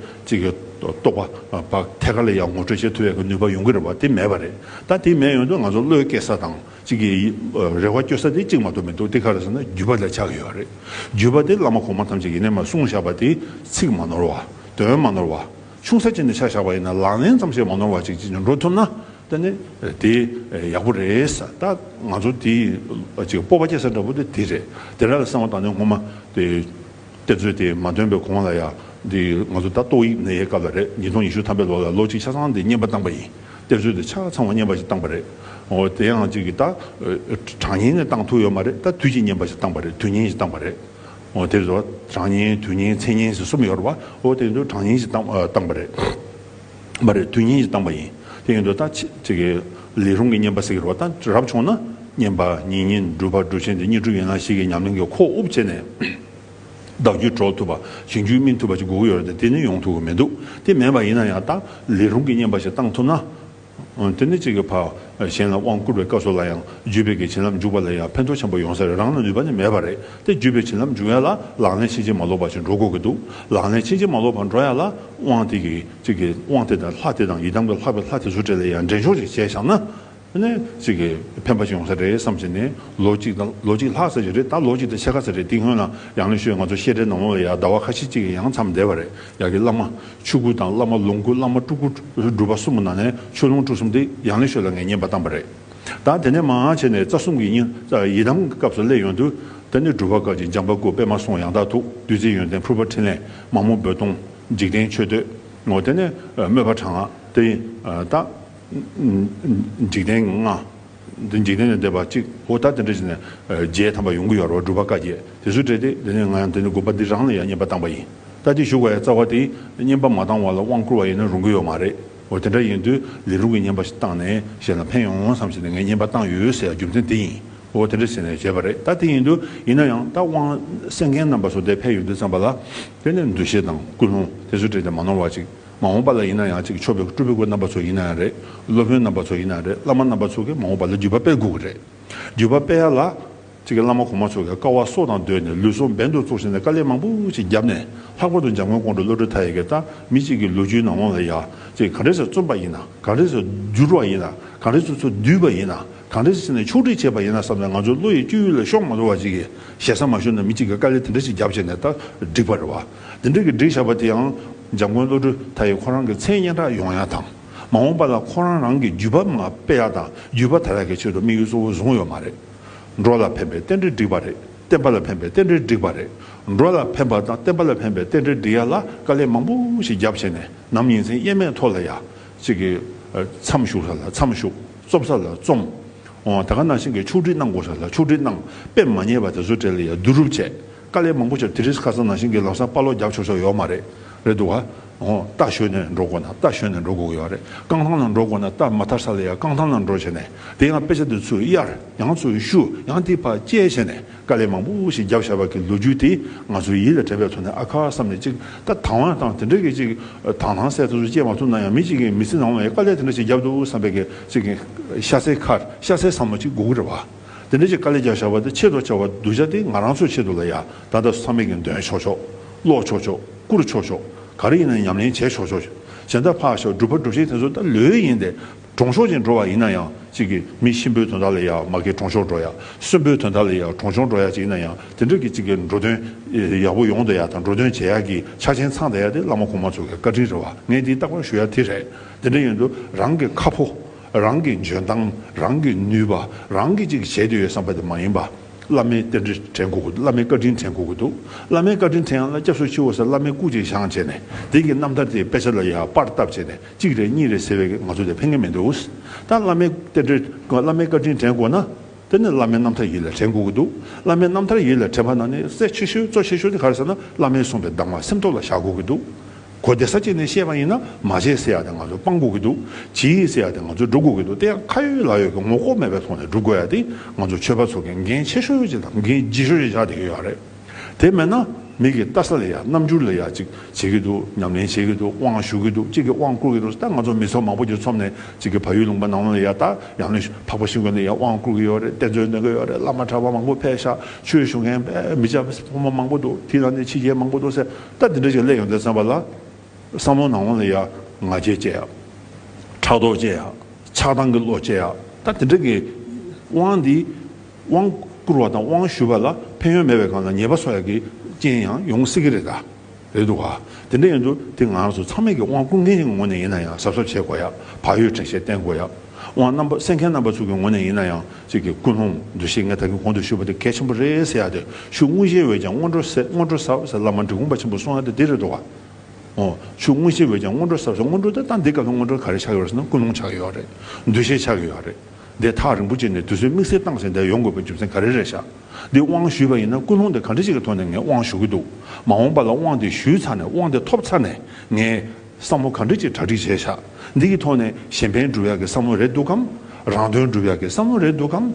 A: རྟོགས་པ་བ་ཐད་ཀ་ལ་ཡང་ངོ་སྤྲོད་བྱེད་ཐུབ་པའི་གེ་ནུས་པ་ཡོང་གི་རེད་བ་དེ་མེད་བ་རེད་ད་དེ་མེད་ཡོང་དུས་ང་ཚོ་བློའི་སྐྱེ་ས་དང་གེ་རེ་བ་སྐྱོ་ས་དེ་གཅིག་མ་གཏོགས་མི་འདུག་དེ་ག་རེ་ཟེར་ན་བརྒྱུད་པ་ལ་ཆགས་གི་ཡོད་བ་རེད་བརྒྱུད་པ་དེ་བླ་མ་གོང་མ་ཐམས་ཅད་ཡེ་ནས་མ་གསུངས་བཞག་པ་དེ་ཚིག་མ་ནོར་བ་དོན་མ་ནོར་བ། ཆུང་ས་ཅན་དུ་ཆ་བཞག་པ་ཡིན་ན་ལག་ལེན་ཙམ་ཞིག་མ་ནོར་བ་ཅིག་ཅིག་འགྲོ་ཐུབ་ན་ད་ནི་དེ་ཡག་པོ་རེད་ད་ང་ཚོ་དེ་ཅིག་སྤོབས་པ་སྐྱེ་ས་འདྲ་པོ་དེ་དེ་རེད་དེ་འདྲ་ལ་བསམ་བ་དང་ནི་ངོ་མ་དེ་གཏེར་མཛོད་དེ་མ་ཐོན་པའི་གོང་ལ་ཡང་དེ་ང་ཚོ་ད་ཏོག་དབྱིབས་ནད་ཡའི་སྐབས་ལ་རེད་ཉིས་སྟོང་ཉི་ཤུ་ཐམ་པའི་ལོ་ལ་ལོ་གཅིག་ཆ་ཚང་དེ་བསྙེན་པ་བཏང་པ་ཡིན་གཏེར་མཛོད་དེ་ཆ་ཚང་བ་བསྙེན་པ་ཞིག་བཏང་པ་རེད་འོ་དེ་ཡང་ཅིག་གིས་ད་གྲངས་ཉིན་ནས་བཏང་ཐུག་ཡོད་མ་རེད་ད་དུས་ཀྱི་བསྙེན་པ་ཞིག་བཏང་པ་རེད་དུས་ཉིན་ཞིག་བཏང་པ་རེད། ཨོ་དེ་ཚོ་གྲངས་བསྙེན་དུས་བསྙེན་ཚེས་བསྙེན་ཞེས་གསུམ་ཡོད་རེད་བ། ཨོ་དེ་ཚོ་གྲངས་བསྙེན་ཞེས་བཏང་བ་རེད། མ་རེད་དུས་བསྙེན་ཞེས་བཏང་བ་ཡིན། དེ་ཡིན་དུ་ད་ཅི་གི། ལས་རུང་གི་བསྙེན་པ་ཟེར་གི་རེད་བ་ད་རབ་བྱུང་ན། བསྙེན་པ་ཉིན་བསྙེན་སྒྲུབ་པ་སྒྲུབ་ཆེན་དེ་གཉིས་གྲུབ་ཡོད་ན་ཞིག་གི་ཉམས་ལེན་གྱི་ཁོག་དབུབ་བྱས་ནས། བདག་རྒྱུད་གྲོལ་ཐུབ་པ་ཞིང་རྒྱུད་སྨིན་ཐུབ་པ་ཅིག་དགོས་ཀྱི་ཡོད་རེད་དེ་ནི་ཡོང་ཐུབ་ཀྱི་མི་འདུག་དེ་མེད་པ་ཡིན་ན་ཡང་ད་ལས་རུང་གི་བསྙེན་པ་ཞིག་བཏང་ཐུབ་ན། དེ་ནི་གཅིག་གི་བར་གཞན་ལ་དབང་བསྐུར་བའི་སྐབས་སོགས་ལ་ཡང་བརྒྱུད་པའི་གི་བྱིན་རླབས་འཇུག་པ་ལ་ཡང་ཕན་ཐོགས་ཆེན་པོ་ཡོང་ས་རེད་རང་ལ་ནུས་པ་ནི་མེད་པ་རེད་དེ་བརྒྱུད་པའི་བྱིན་རླབས་འཇུག་ཡ་ལ་ལག་ལེན་ཕྱིན་ཅི་མ་ལོག་པ་ཞིག་འགྲོ་དགོས་ཀྱི་འདུག་ལག་ལེན་ཕྱིན་ཅི་མ་ལོག་པར་འགྲོ་ཡ་ལ་དབང་དེ་གི་གཅིག་གི་དབང་དེ་དང་ལྷ་དེ་དང་ཡི་དམ་གྱི་ལྷག་པའི་ལྷ་དེ་ཚོ་བྲལ་ལ་ཡང་འདྲེན་ཆོག་ཅིག་བྱས་བཞག་ན་ནི་གཅིག་གི་ཕན་པ་ཞིག་ཡོང་ས་རེད་བསམ་བཞིན་ནི་ལོ་གཅིག་དང་ལོ་གཅིག་ལྷག་ས་ཞིག་རེད་ད་ལོ་གཅིག་དང་ཕྱེད་ཀ་ས་རེད་དེ་སྔོན་ལ་ཡང་ནི་ཤོད་ང་ཚོ་བཤད་གྲྭའི་ནང་ལོག་ལ་ཡང་ཟླ་བ་ཁ་ཤས་གཅིག་གི་ཡང་མཚམས་འདས་པ་རེད། ཡག་གི་བླ་མ་ཆོས་སྐུ་དང་བླ་མ་ལོངས་སྐུ་བླ་མ་སྤྲུལ་སྐུ་སྒྲུབ་པ་གསུམ་ནང་ནས་ཆོས་ལོངས་སྤྲུལ་གསུམ་དེ་ཡང་ལེགས་ཤོས་ལ་ངས་ཉན་པ་བཏང་བ་རེད་ད་དེ་ནས་མང་ཡང་བྱས་ནས་རྩ་གསུམ་གྱི་སྙིང་ཡི་དམ་གྱི་སྐབས་སུ་སླེབས་ཡོང་དུས་ད་ནི་སྒྲུབ་པ་སྐབས་ཀྱི་འཇམ་པ་སྐུ་དཔེ་མ་སོང་ཡང་དག་ཐུགས་བདུད་རྩི་ཡོན་ཏན་ཕུར་པ་ཕྲིན་ལས་མ་མོ་རྦོད་གཏོང་འཇིག་རྟེན་མཆོད་བསྟོད་ངོ་དེ་ནས་དམོད་པ་དྲག་སྔགས་དེ་དག་འཇིག་རྟེན་ལྔ། འདི་འཇིག་རྟེན་ལས་འདས་པ་གཅིག་གོ་ད་དེ་འདྲ་བྱས་ནས་རྗེས་དམ་པ་ཡོང་གི་ཡོད་རོགས་སྒྲུབ་པ་བཀའ་རྒྱས་དེ་ཚོས་བྲེལ་ཏེ་དེ་ནས་ང་ཡང་དེ་ནས་དགོན་པ་འདི་རང་ལ་ཡང་བསྙེན་པ་བཏང་པ་ཡིན་ད་ལྟའི་བཞུགས་པའི་རྩ་བ་དེས་བསྙེན་པ་མ་བཏང་བ་ལ་དབང་བསྐུར་བ་ཡིན་ན་རུང་གི་ཡོད་མ་རེད་འོ་དེ་འདྲ་ཡིན་དུས་ལས་སྒྲུབ་ཀྱི་བསྙེན་པ་ཞིག་བཏང་ནས་གཞན་ལ་ཕན་ཡོང་བསམ་བྱས་ནས་ངས་བསྙེན་པ་བཏང་ཡོད་ཟེར་ཡ་རྒྱུ་མཚན་དེ་ཡིན་འོ་དེ་འདྲ་བྱས་ནས་བྱས་པ་རེད་ད་དེ་ཡིན་དུས་ཡིན་ན་ཡང་ད་དབང་གསན་མཁན་རྣམ་པ་ཚོ་དེ་ཕན་ཡོད་དུས་བརྩམས་པ་ལ་དེ་ནས་འདུ་ཤེས་དང་ཀུན་སློང་དེ་ཚོས་བྲེལ་ཏེ་མ་ནོར་བ་ཅིག་མ་འོངས་པ་ལ་ཡིན་ན་ཡང་གཅིག་མཆོད་པའི་སྐུ་སྤྲུལ་པའི་སྐུ་རྣམ་པ་ཚོ་ཡིན་ན་ཡང་རེད། སློབ་དཔོན་རྣམ་པ་ཚོ་ཡིན་ན་ཡང་རེད་བླ་མ་རྣམ་པ་ཚོ་གིས་མ་འོངས་པ་ལ་བརྒྱུད་པ་སྤེལ་དགོས་གི་རེད། བརྒྱུད་པ་སྤེལ་ཡ་ལ། གཅིག་གི་བླ་མ་གོང་མ་ཚོ་གིས་དཀའ་བ་སྲོག་དང་བསྡོས་ནས་ལུས་སྲོག་འབེན་དུ་བཙུགས་ཟིན་ནས་དཀའ་ལས་མང་པོ་ཞིག་བརྒྱབ་ནས་ལྷག་པར་དུ་འཇམ་མགོན་ཀོང་སྤྲུལ་བློ་གྲོས་མཐའ་ཡས་ཀྱི་ལྟ་མི་གཅིག་གི་ལོ་རྒྱུས་ནང་ལོང་ལ་ཡ་གཅིག་གངས་རི་སར་བཙུན་པ་ཡིན་ན་གངས་རི་སར་བསྒྱུར་བ་ཡིན་ན་གངས་རི་སོ་སོར་བསྡུས་པ་ཡིན་ན་གངས་རི་སོ་སོ་ནས་ཕྱོགས་སྒྲིག་བྱས་པ་ཡིན་ན་བསམ་ནས་ང་ཚོའི་བློ་ཡི་སྤྱོད་ཡུལ་ལ་ཤོག་མ་འགྲོ་བ་ཅིག་གིས་ཞེ་ས་མ་ཞུ་ན་མི་གཅིག་གིས་དཀའ་ལས་དེ་འདྲ་ཞིག་བརྒྱབ་བྱས་ནས་ལྟ་སྒྲིག་པར་རེ་བ། འདི་འབྲེལ་གྱི་སྒྲིག་བྱ་བ་དེའང་འཇམ་མགོན་བློ་གྲོས་དྷ་ཡིས་ཁོ་རང་གི་མཚན་སྙན་གྲགས་ཡོང་ཡག་དང་མ་འོངས་པ་ལ་ཁོ་རང་རང་གི་བརྒྱུད་པ་མ་སྤེལ་ཡག་དང་བརྒྱུད་པ་དར་ཡག་གི་ཆེད་དུ་དམིགས་ཡུལ་གཙོ་བོ་བཟུང་ཡོད་མ་རེད། འགྲོ་ལ་ཕན་པའི་རྟེན་འབྲེལ་བསྒྲིགས་པ་རེད་བསྟན་པ་ལ་ཕན་པའི་རྟེན་འབྲེལ་བསྒྲིགས་པ་རེད། འགྲོ་ལ་ཕན་པ་དང་བསྟན་པ་ལ་ཕན་པའི་རྟེན་འབྲེལ་བསྒྲིགས་ཡག་ལ་དཀའ་ལས་མང་པོ་ཞིག་རྒྱབ་བྱས་ནས་ནམ་ཡིན་མཚན་སྙན་མེད་ཐོག་ལ་ཡག་ཅིག་གིས་མཚམས་ཞུགས་ས་ལ་མཚམས་ཞུགས་རྩོམ་ས་ལ་རྩོམ། ད་ག་ནང་བཞིན་གྱི་ཕྱུགས་སྒྲིག་གནང་དགོས་ས་ལ་ཕྱུགས་སྒྲིག་གནང་དཔེ་མ་རྙེད་པ་དེ་ཚོ་བྲལ་ཡག་བསྡུ་རུབ་བྱས། དཀའ་ལས་མང་པོ་བྱས་དེ་རིང་ཁ་སང་ནང་བཞིན་གྱི་ལག་སང་དཔའ་ལོག་རྒྱབ་ཆོག་ཆོག་ཡོད་མ་རེད་རེད་འདུག་ག་ཨོ་རྟ་ཞོན་ནས་འགྲོ་དགོས་ན་རྟ་ཞོན་ནས་འགྲོ་དགོས་ཀྱི་ཡོད་རེད་རྐང་ཐང་ལ་འགྲོ་དགོས་ན་རྟ་མ་ཐར་ས་ལ་ཡང་རྐང་ཐང་ལ་འགྲོ་བྱས་ནས་དེ་ཡང་དཔེ་ཆ་འདི་ཚོས་གཡར་ཡང་ཚོས་བཤུ་ཡང་དེ་བར་བཅད་བྱས་ནས་དཀའ་ལས་མང་པོ་ཞིག་རྒྱབ་བྱས་པ་གི་ལོ་རྒྱུས་དེ་ང་ཚོའི་ཡིད་ལ་དྲན་པའི་ཐོག་ནས་ཨ་ཁ་བསམ་ནས་ཅིག་ད་དང་བ་དང་དེ་འདྲ་གི་ཅིག་དང་ལྷང་སད་དེ་ཚོ་བཅད་མ་ཐུབ་ན་ཡང་མི་ཅིག་གི་མི་ཚེ་ནང་བའི་དཀའ་ལས་དེ་འདྲ་ཞིག་རྒྱབ་འདུག་བསམ་པའི་གི་ཅིག་ཤ་ཚའི་ཁར་ཤ་ཚའི་བསམ་བློ་ཅིག་དགོས་ཀྱི་རེད་བ། དེ་འདྲ་ཅིག་དཀའ་ལས་ཀྱང་བཞག་པ་དེ་ཆེད་དུ་བྱ་བ་གདུལ་བྱ་དེ་ང་རང་ཚོའི་ཆེད་དུ་ལ་ཡང་ད་ལྟ་བསམ་མེད་ཀྱི་འདོན་ཆོག་ཆོག་ཀློག་ཆོག་ཆོག་བསྐུར་ཆོག་ཆོག་ག་རེ་ཡིན་ན་ཉམས་ལེན་བྱས་ཆོག་ཆོག་བྱས་འདའ་ཕག་ཞག་སྒྲུབ་ཕ་སྒྲུབ་བྱེད་དེ་ཚོ་ད་ལོས་ཡིན་ཏེ་གྲོང་ཤོག་ཅིག་འགྲོ་བ་ཡིན་ན་ཡང་ཅིག་གི་མི་གཤིན་པོའི་དོན་དག་ལ་ཡང་མ་གི་གྲོང་ཤོག་འགྲོ་ཡ་གསོན་པོའི་དོན་དག་ལ་ཡང་གྲོང་ཤོག་འགྲོ་ཡ་ཅིག་ཡིན་ན་ཡང་དེ་འདྲ་གི་ཅིག་གི་འགྲོ་དོན་ཡག་པོ་ཡོང་འདོད་ཡ་དང་འགྲོ་དོན་བྱེད་ཡག་གི་ཆ་ཆེན་ཚང་འདའ་ཡ་དེ་བླ་མ་གོང་མ་ཚོ་གི་བཀའ་དྲིན་རེད་བ་ངས་དེ་རྟག་པར་ཞུ་ཡ་དེ་རེད་དེ་འདྲ་ཡིན་དུ་རང་གི་ཁ་ཕོ། རང་གི་འཇོན་ཐང་རང་གི་ནུས་པ་རང་གིས་ཅིག་བྱེད་དུ་ཡོད་བསམ་པ་དེ་མ་ཡིན་པ། བླ་མའི་རྟེན་འབྲེལ་དྲན་དགོས་ཀྱི་འདུག་བླ་མའི་བཀའ་དྲིན་དྲན་དགོས་ཀྱི་འདུག་བླ་མའི་བཀའ་དྲིན་དྲན་ཡང་ན་སྐྱབས་སུ་མཆིའོ་ཟེར་བླ་མའི་སྐུ་གཅིག་བཞེངས་བྱས་ནས་དེང་གི་རྣམ་ཐར་དེའི་དཔེ་ཆ་ལ་ཡང་པར་བཏབ་བྱས་ནས་གཅིག་རེད་གཉིས་རེད་ཟེར་བའི་ང་ཚོ་དེ་ཕན་ཀྱི་མི་འདུག་ད་བླ་མའི་རྟེན་འབྲེལ་བླ་མའི་བཀའ་དྲིན་དྲན་དགོས་ན་དེ་ནི་བླ་མའི་རྣམ་ཐར་ཡིད་ལ་དྲན་དགོས་ཀྱི་འདུག་བླ་མའི་རྣམ་ཐར་ཡིད་ལ་དྲན་པ་ན་ནི་གསལ་ཆེ་ཤོས་གཙོ་ཆེ་ཤོས་དེ་ག་རེ་ཟེར་ན་བླ་མའི་གསུངས་པའི་གདམས་ངག་སེམས་ཐོག་ལ་བཞག་དགོས་ཀྱི་འདུག་གོ་བདེ་ས་གཅིག་ནས་བཤད་པ་ཡིན་ན་མ་བྱེད་ཟེར་ཡག་དེ་ང་ཚོ་སྤང་དགོས་ཀྱི་འདུག་བྱེད་ཡིག་ཟེར་ཡག་དེ་ང་ཚོ་སྒྲུབ་དགོས་ཀྱི་འདུག་དེ་ཡང་ཁ་ཡོད་ལག་ཡོད་ཀྱི་ངོ་ལྐོག་མེད་པའི་ཐོག་ནས་སྒྲུབ་དགོས་ཡག་དེ་ང་ཚོ་ཆོས་པ་ཚོ་གིས་འགན་ཆེ་ཤོས་ཡོད་ཅིག་དང་འགན་ལྗིད་ཤོས་ཡོད་ཅིག་བྱ་དགོས་ཡག་རེད། དེ་མེད་ན་མིག་གིས་བལྟ་ས་ལས་ཡག་རྣམ་འགྱུར་ལས་ཡག་ཅིག་བྱེད་ཀྱི་འདུག་ཉམས་ལེན་བྱེད་ཀྱི་འདུག་དབང་ཞུ་གི་འདུག་གཅིག་གིས་དབང་བསྐུར་གྱི་འདུག་ད་ང་ཚོ་མི་ཚོགས་མང་པོ་གྱི་ཚོམས་ནས་གཅིག་གིས་ཕ་ཡུལ་ལུང་པ་ནང་ལོག་ལས་ཡག་ད་ཡང་ནི་འཕགས་པ་ཤིང་དགོན་ནས་ཡག་དབང་བསྐུར་གྱི་ཡོད་རེད་གཏེར་མཛོད་འདོན་གྱི་ཡོད་རེད་བླ་མ་གྲྭ་པ་མང་པོ་ཕལ་ཤ་ཆོས་ཞུ་མཁན་མི་སྤྱ་ཕོ་མོ་མང་པོ་འདུག་དེའི་ནང་ནས་ཕྱི་རྒྱལ་མང་པོ་འདུག་ཟེར། ད་འདི་འདྲ་ཞིག་སླེབས་ཡོང་ཟེར་བསམ་པ་ལ། བསམ་བློ་ནང་བོ་ལ་ཡ་ང་བྱེད་ཅེས་ཡ། ཕྲག་དོག་ཅེས་ཡ། ཆགས་སྡང་གི་བློ་ཅེས་ཡ། ད་འདི་འདྲ་གི། དབང་འདི། དབང་བསྐུར་བ་དང་དབང་ཞུས་པ་ལ་ཕན་ཡོན་མེད་པའི་སྒང་ལ་ཉེས་པ་གསོག་ཡག་གི་རྐྱེན་ཡང་ཡོང་སྲིད་ཀྱི་རེད་ད། རེད་འདུག་ག། དེ་འདྲ་ཡིན་དུས་དེ་ང་ཚོ་ཚང་མས་ཀྱི་དབང་བསྐུར་མཁན་ཞིག་གི་ངོས་ནས་ཡིན་ན་ཡང་གཟབ་གཟབ་བྱེད་དགོས་ཡ། བག་ཡོད་བྲེལ་བཤད་བསྟེན་དགོས་ཡ། དབང་རྣམ་པ་སེལ་མཁན་རྣམ་པ་ཚོ་གི་ངོ་ནས་ཡིན་ན་ཡང་སྲིད་ཀྱི་ཀུན་སློང་འདུ་ཤེས་ངས་ད་གིན་གོང་དུ་ཞུས་པ་དེ་གལ་ཆེན་པོ་རེད་ཟེར་ཡག་དེ་ཤུ་དངུལ་གཞེས་འོས་ཀྱང་སྔོན་འགྲོ་སེལ་སྔོན་འགྲོ་ཟབ་ཟེར་བླ་མ་འབྲི་གུང་པ་ཆེན་པོ་གསུང་ཡག་དེ་འདི་རེད་འགྲོ་བ། ཨོ། ཤུ་དངུལ་གཞེས་འོས་ཀྱང་སྔོན་འགྲོ་ཟབ་ཟེར་སྔོན་འགྲོ་དེ་ལྟ་འདི་སྐབས་སུ་སྔོན་འགྲོ་ག་རེ་ཆགས་ཡོད་རེད་ཟེར་ན་ཀུན་སློང་ཆགས་ཡོད་རེད། འདུ་ཤེས་ཆགས་ཡོད་རེད། འདི་ཐག་རིང་པོ་བཅད་ནས་དུས་ཚོད་དམིགས་བསལ་བཏང་ཟིན་དེ་ཡོང་དགོས་པའི་རྒྱུ་མཚན་ག་རེ་རེད་ཤག་འདི་དབང་ཞུས་པ་ཡིན་ན་ཀུན་སློང་དེ་གང་འདྲི་ཅིག་གི་ཐོག་ནས་ངས་དབང་ཞུ་གི་འདུག་མ་འོངས་པ་ལ་དབང་དེ་ཞུས་ཚར་ནས་དབང་དེ་ཐོབ་ཚར་ནས་ངས། བསམ་བློ་གང་འདྲ་ཅིག་གྲ་སྒྲིག་བྱས་བཞག་འདི་གི་ཐོག་ནས་གཞན་ཕན་སྒྲུབ་ཡག་གི་བསམ་བློ་རེད་འདུག་གམ། རང་དོན་སྒྲུབ་ཡག་གི་བསམ་བློ་རེད་འདུག་གམ།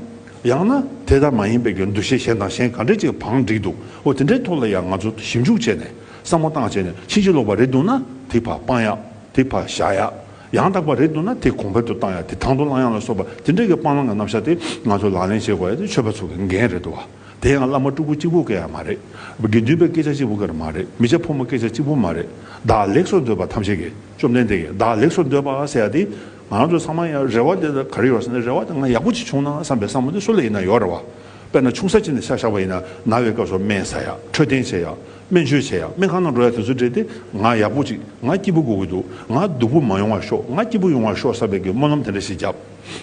A: ཡང་ན་དེ་ལྟར་མ་ཡིན་པའི་གྱུར་འདུ་ཤེས་གཞན་དང་གཞན་གང་འདྲ་ཅིག་བང་བསྒྲིགས་འདུག་འོ་དེ་འདྲའི་ཐོག་ལ་ཡང་ང་ཚོ་ཞིབ་འཇུག་བྱས་ནས་བསམ་བློ་བཏང་བྱས་ནས་ཕྱིན་ཅི་ལོག་པ་རེད་འདུག་ན་དེ་བར་སྤང་ཡག་དེ་བར་བཞག་ཡག་ཡང་དག་པ་རེད་འདུག་ན་དེ་གོང་འཕེལ་དུ་བཏང་ཡག་དེ་དང་དུ་བླང་ཡག་ལ་སོགས་པ་དེ་འདྲ་གི་སྤང་བླང་གི་རྣམ་བཞག་དེ་ང་ཚོ་ལག་ལེན་བྱེད་དགོས་ཡ་དེ་ཆོས་པ་ཚོ་གི་འགན་རེད་འདུག་བ། དེ་ཡང་བླ་མ་སྤྲུལ་སྐུ་གཅིག་པུ་སྐད་ཡང་མ་རེད། དགེ་འདུན་པའི་སྐད་ཆ་གཅིག་པུ་སྐད་མ་རེད། མི་ཆ་ཕོ་མོ་སྐད་ཆ་གཅིག་པུ་མ་རེད། བདག་ལེགས་སོ་འདོད་པ་ཐམས་ཅད་ཀྱིས་བཅོམ་ལྡན་འདས་ཀྱིས་བདག་ལེགས་སོ་འདོད་པ་ཟེར་ཡ་དེ། ང་རང་ཚོའི་ཚང་མ་ཡང་རེ་བ་དེ་ག་རེ་ཡོད་ཟེར་ན་རེ་བ་དེ་ང་ཡག་པོ་གཅིག་བྱུང་ན་བསམ་པའི་བསམ་བློ་དེ་སུ་ལ་ཡིན་ན་ཡོད་རེ་བ། དཔེར་ན་ཆུང་ས་གཅིག་ནས་ཤ་བཞག་པ་ཡིན་ན་ན་བའི་སྐབས་སུ་སྨན་ཟ་ཡ་འཕྲོད་བསྟེན་བྱེད་ཡ་སྨན་བཅོས་བྱེད་ཡ་སྨན་ཁང་ནང་འགྲོ་ཡ་དེ་ཚོ་བྲིས་ཏེ་ང་ཡག་པོ་གཅིག་ང་སྐྱིད་པོ་དགོས་ཀྱི་འདུག་ང་སྡུག་པོ་མ་ཡོང་བ་ཤོག་ང་སྐྱིད་པོ་ཡོང་བ་ཤོག་བསམ་པའི་སྨོན་ལམ་དེ་འདྲ་ཞིག་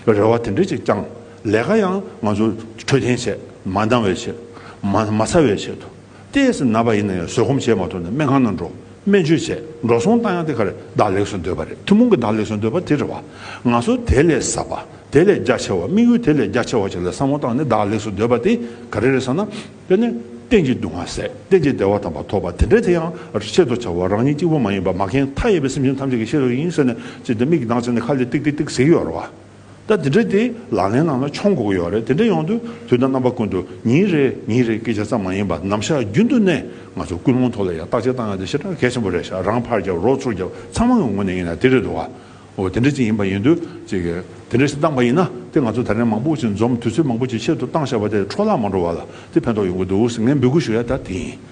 A: བརྒྱབ། རེ་བ་དེ་འདྲ་ཅིག་བཅངས། ལས་ཀ་ཡང་ང་ཚོ་འཕྲོད་བསྟེན་བྱས་མ་འདང་བས་བྱས་མ་མ་ཚར་བས་བྱས་ཐུབ་ཏེ་སེམས་ན་པ་ཡིན་ན་ཡང་བཟོད་སྒོམ་བྱས་མ་ཐུབ་ན་སྨན་ཁང་ནང་འགྲོ་སྨན་བཅོས་བྱས་འགྲོ་སོང་བཏང་ཡང་དེ་ག་རེ་བདག་ལེགས་སུ་འདོད་པ་རེད་ཐུན་མོང་གི་བདག་ལེགས་སུ་འདོད་པ་དེ་རེད་བ། ང་ཚོ་དེ་ལས་ཟབ་པ་དེ་ལས་རྒྱ་ཆེ་བ་དམིགས་ཡུལ་དེ་ལས་རྒྱ་ཆེ་བ་ཞིག་ལ་བསམ་བློ་བཏང་ནས་བདག་ལེགས་སུ་འདོད་པ་དེ་ག་རེ་རེད་ཟེར་ན། དཔེར་ན་བསྟན་གྱི་སྡུག་བསྔལ་ཟད་བསྟན་གྱི་བདེ་བ་དམ་པ་ཐོབ་པ་དེ་འདྲའི་དེ་ཡང་ཆེད་དུ་བྱ་བ་རང་ཉིད་གཅིག་པུ་མ་ཡིན་པར་མ་མཁན་མཐའ་ཡས་པའི་སེམས་ཅན་ཐམས་ཅད་ཀྱི་ཤེས་རབ་ཡིན་ཟེར་ནས་ཅི་སྟེ་མིག་གི་མདངས་བཙིར་ནས་ཁ་ལས་ཏིག་ཏིག་ཏིག་ཟེར་གྱི་ཡོད་རེད་བ། ད་དེ་འདྲ་དེ་ལག་ལེན་ནང་ལ་འཆོང་དགོས་ཀྱི་ཡོད་རེད་དེ་འདྲ་ཡོང་དུས་དུས་དང་རྣམ་པ་ཀུན་ཏུ་ཉིན་རེ་ཉིན་རེ་སྐད་ཆ་ཙམ་མ་ཡིན་པར་ནམ་ཞག་རྒྱུན་དུ་ནས་ང་ཚོ་ཀུན་སློང་ཐོག་ལ་ཡང་བརྟག་དཔྱད་བཏང་ཡོང་དུས་ཞེ་དྲག་གལ་ཆེན་པོ་རེད་ཞག་རང་ཕར་རྒྱབ་རོགས་ཚུར་རྒྱབ་ཚང་མ་ངོས་ནས་ཡིན་ན་དེ་རེད་འདུག་བ། དེ་འདྲ་ཅིག་ཡིན་པ་ཡིན་དུས་ཅིག་དེ་འདྲ་ཞིག་བཏང་པ་ཡིན་ན་དེ་ང་ཚོ་ད་ལན་མང་པོ་ཞིག་འཛོམས་དུས་ཚོད་མང་པོ་ཞིག་ཆེད་དུ་བཏང་བཞག་པ་དེ་འཕྲོ་བརླག་མ་འགྲོ་བ་ལ་དེ་ཕན་ཐོགས་ཡོང་གི་འདུག་ངས་འབོད་སྐུལ་ཞུ་ཡ་ད་དེ་ཡིན།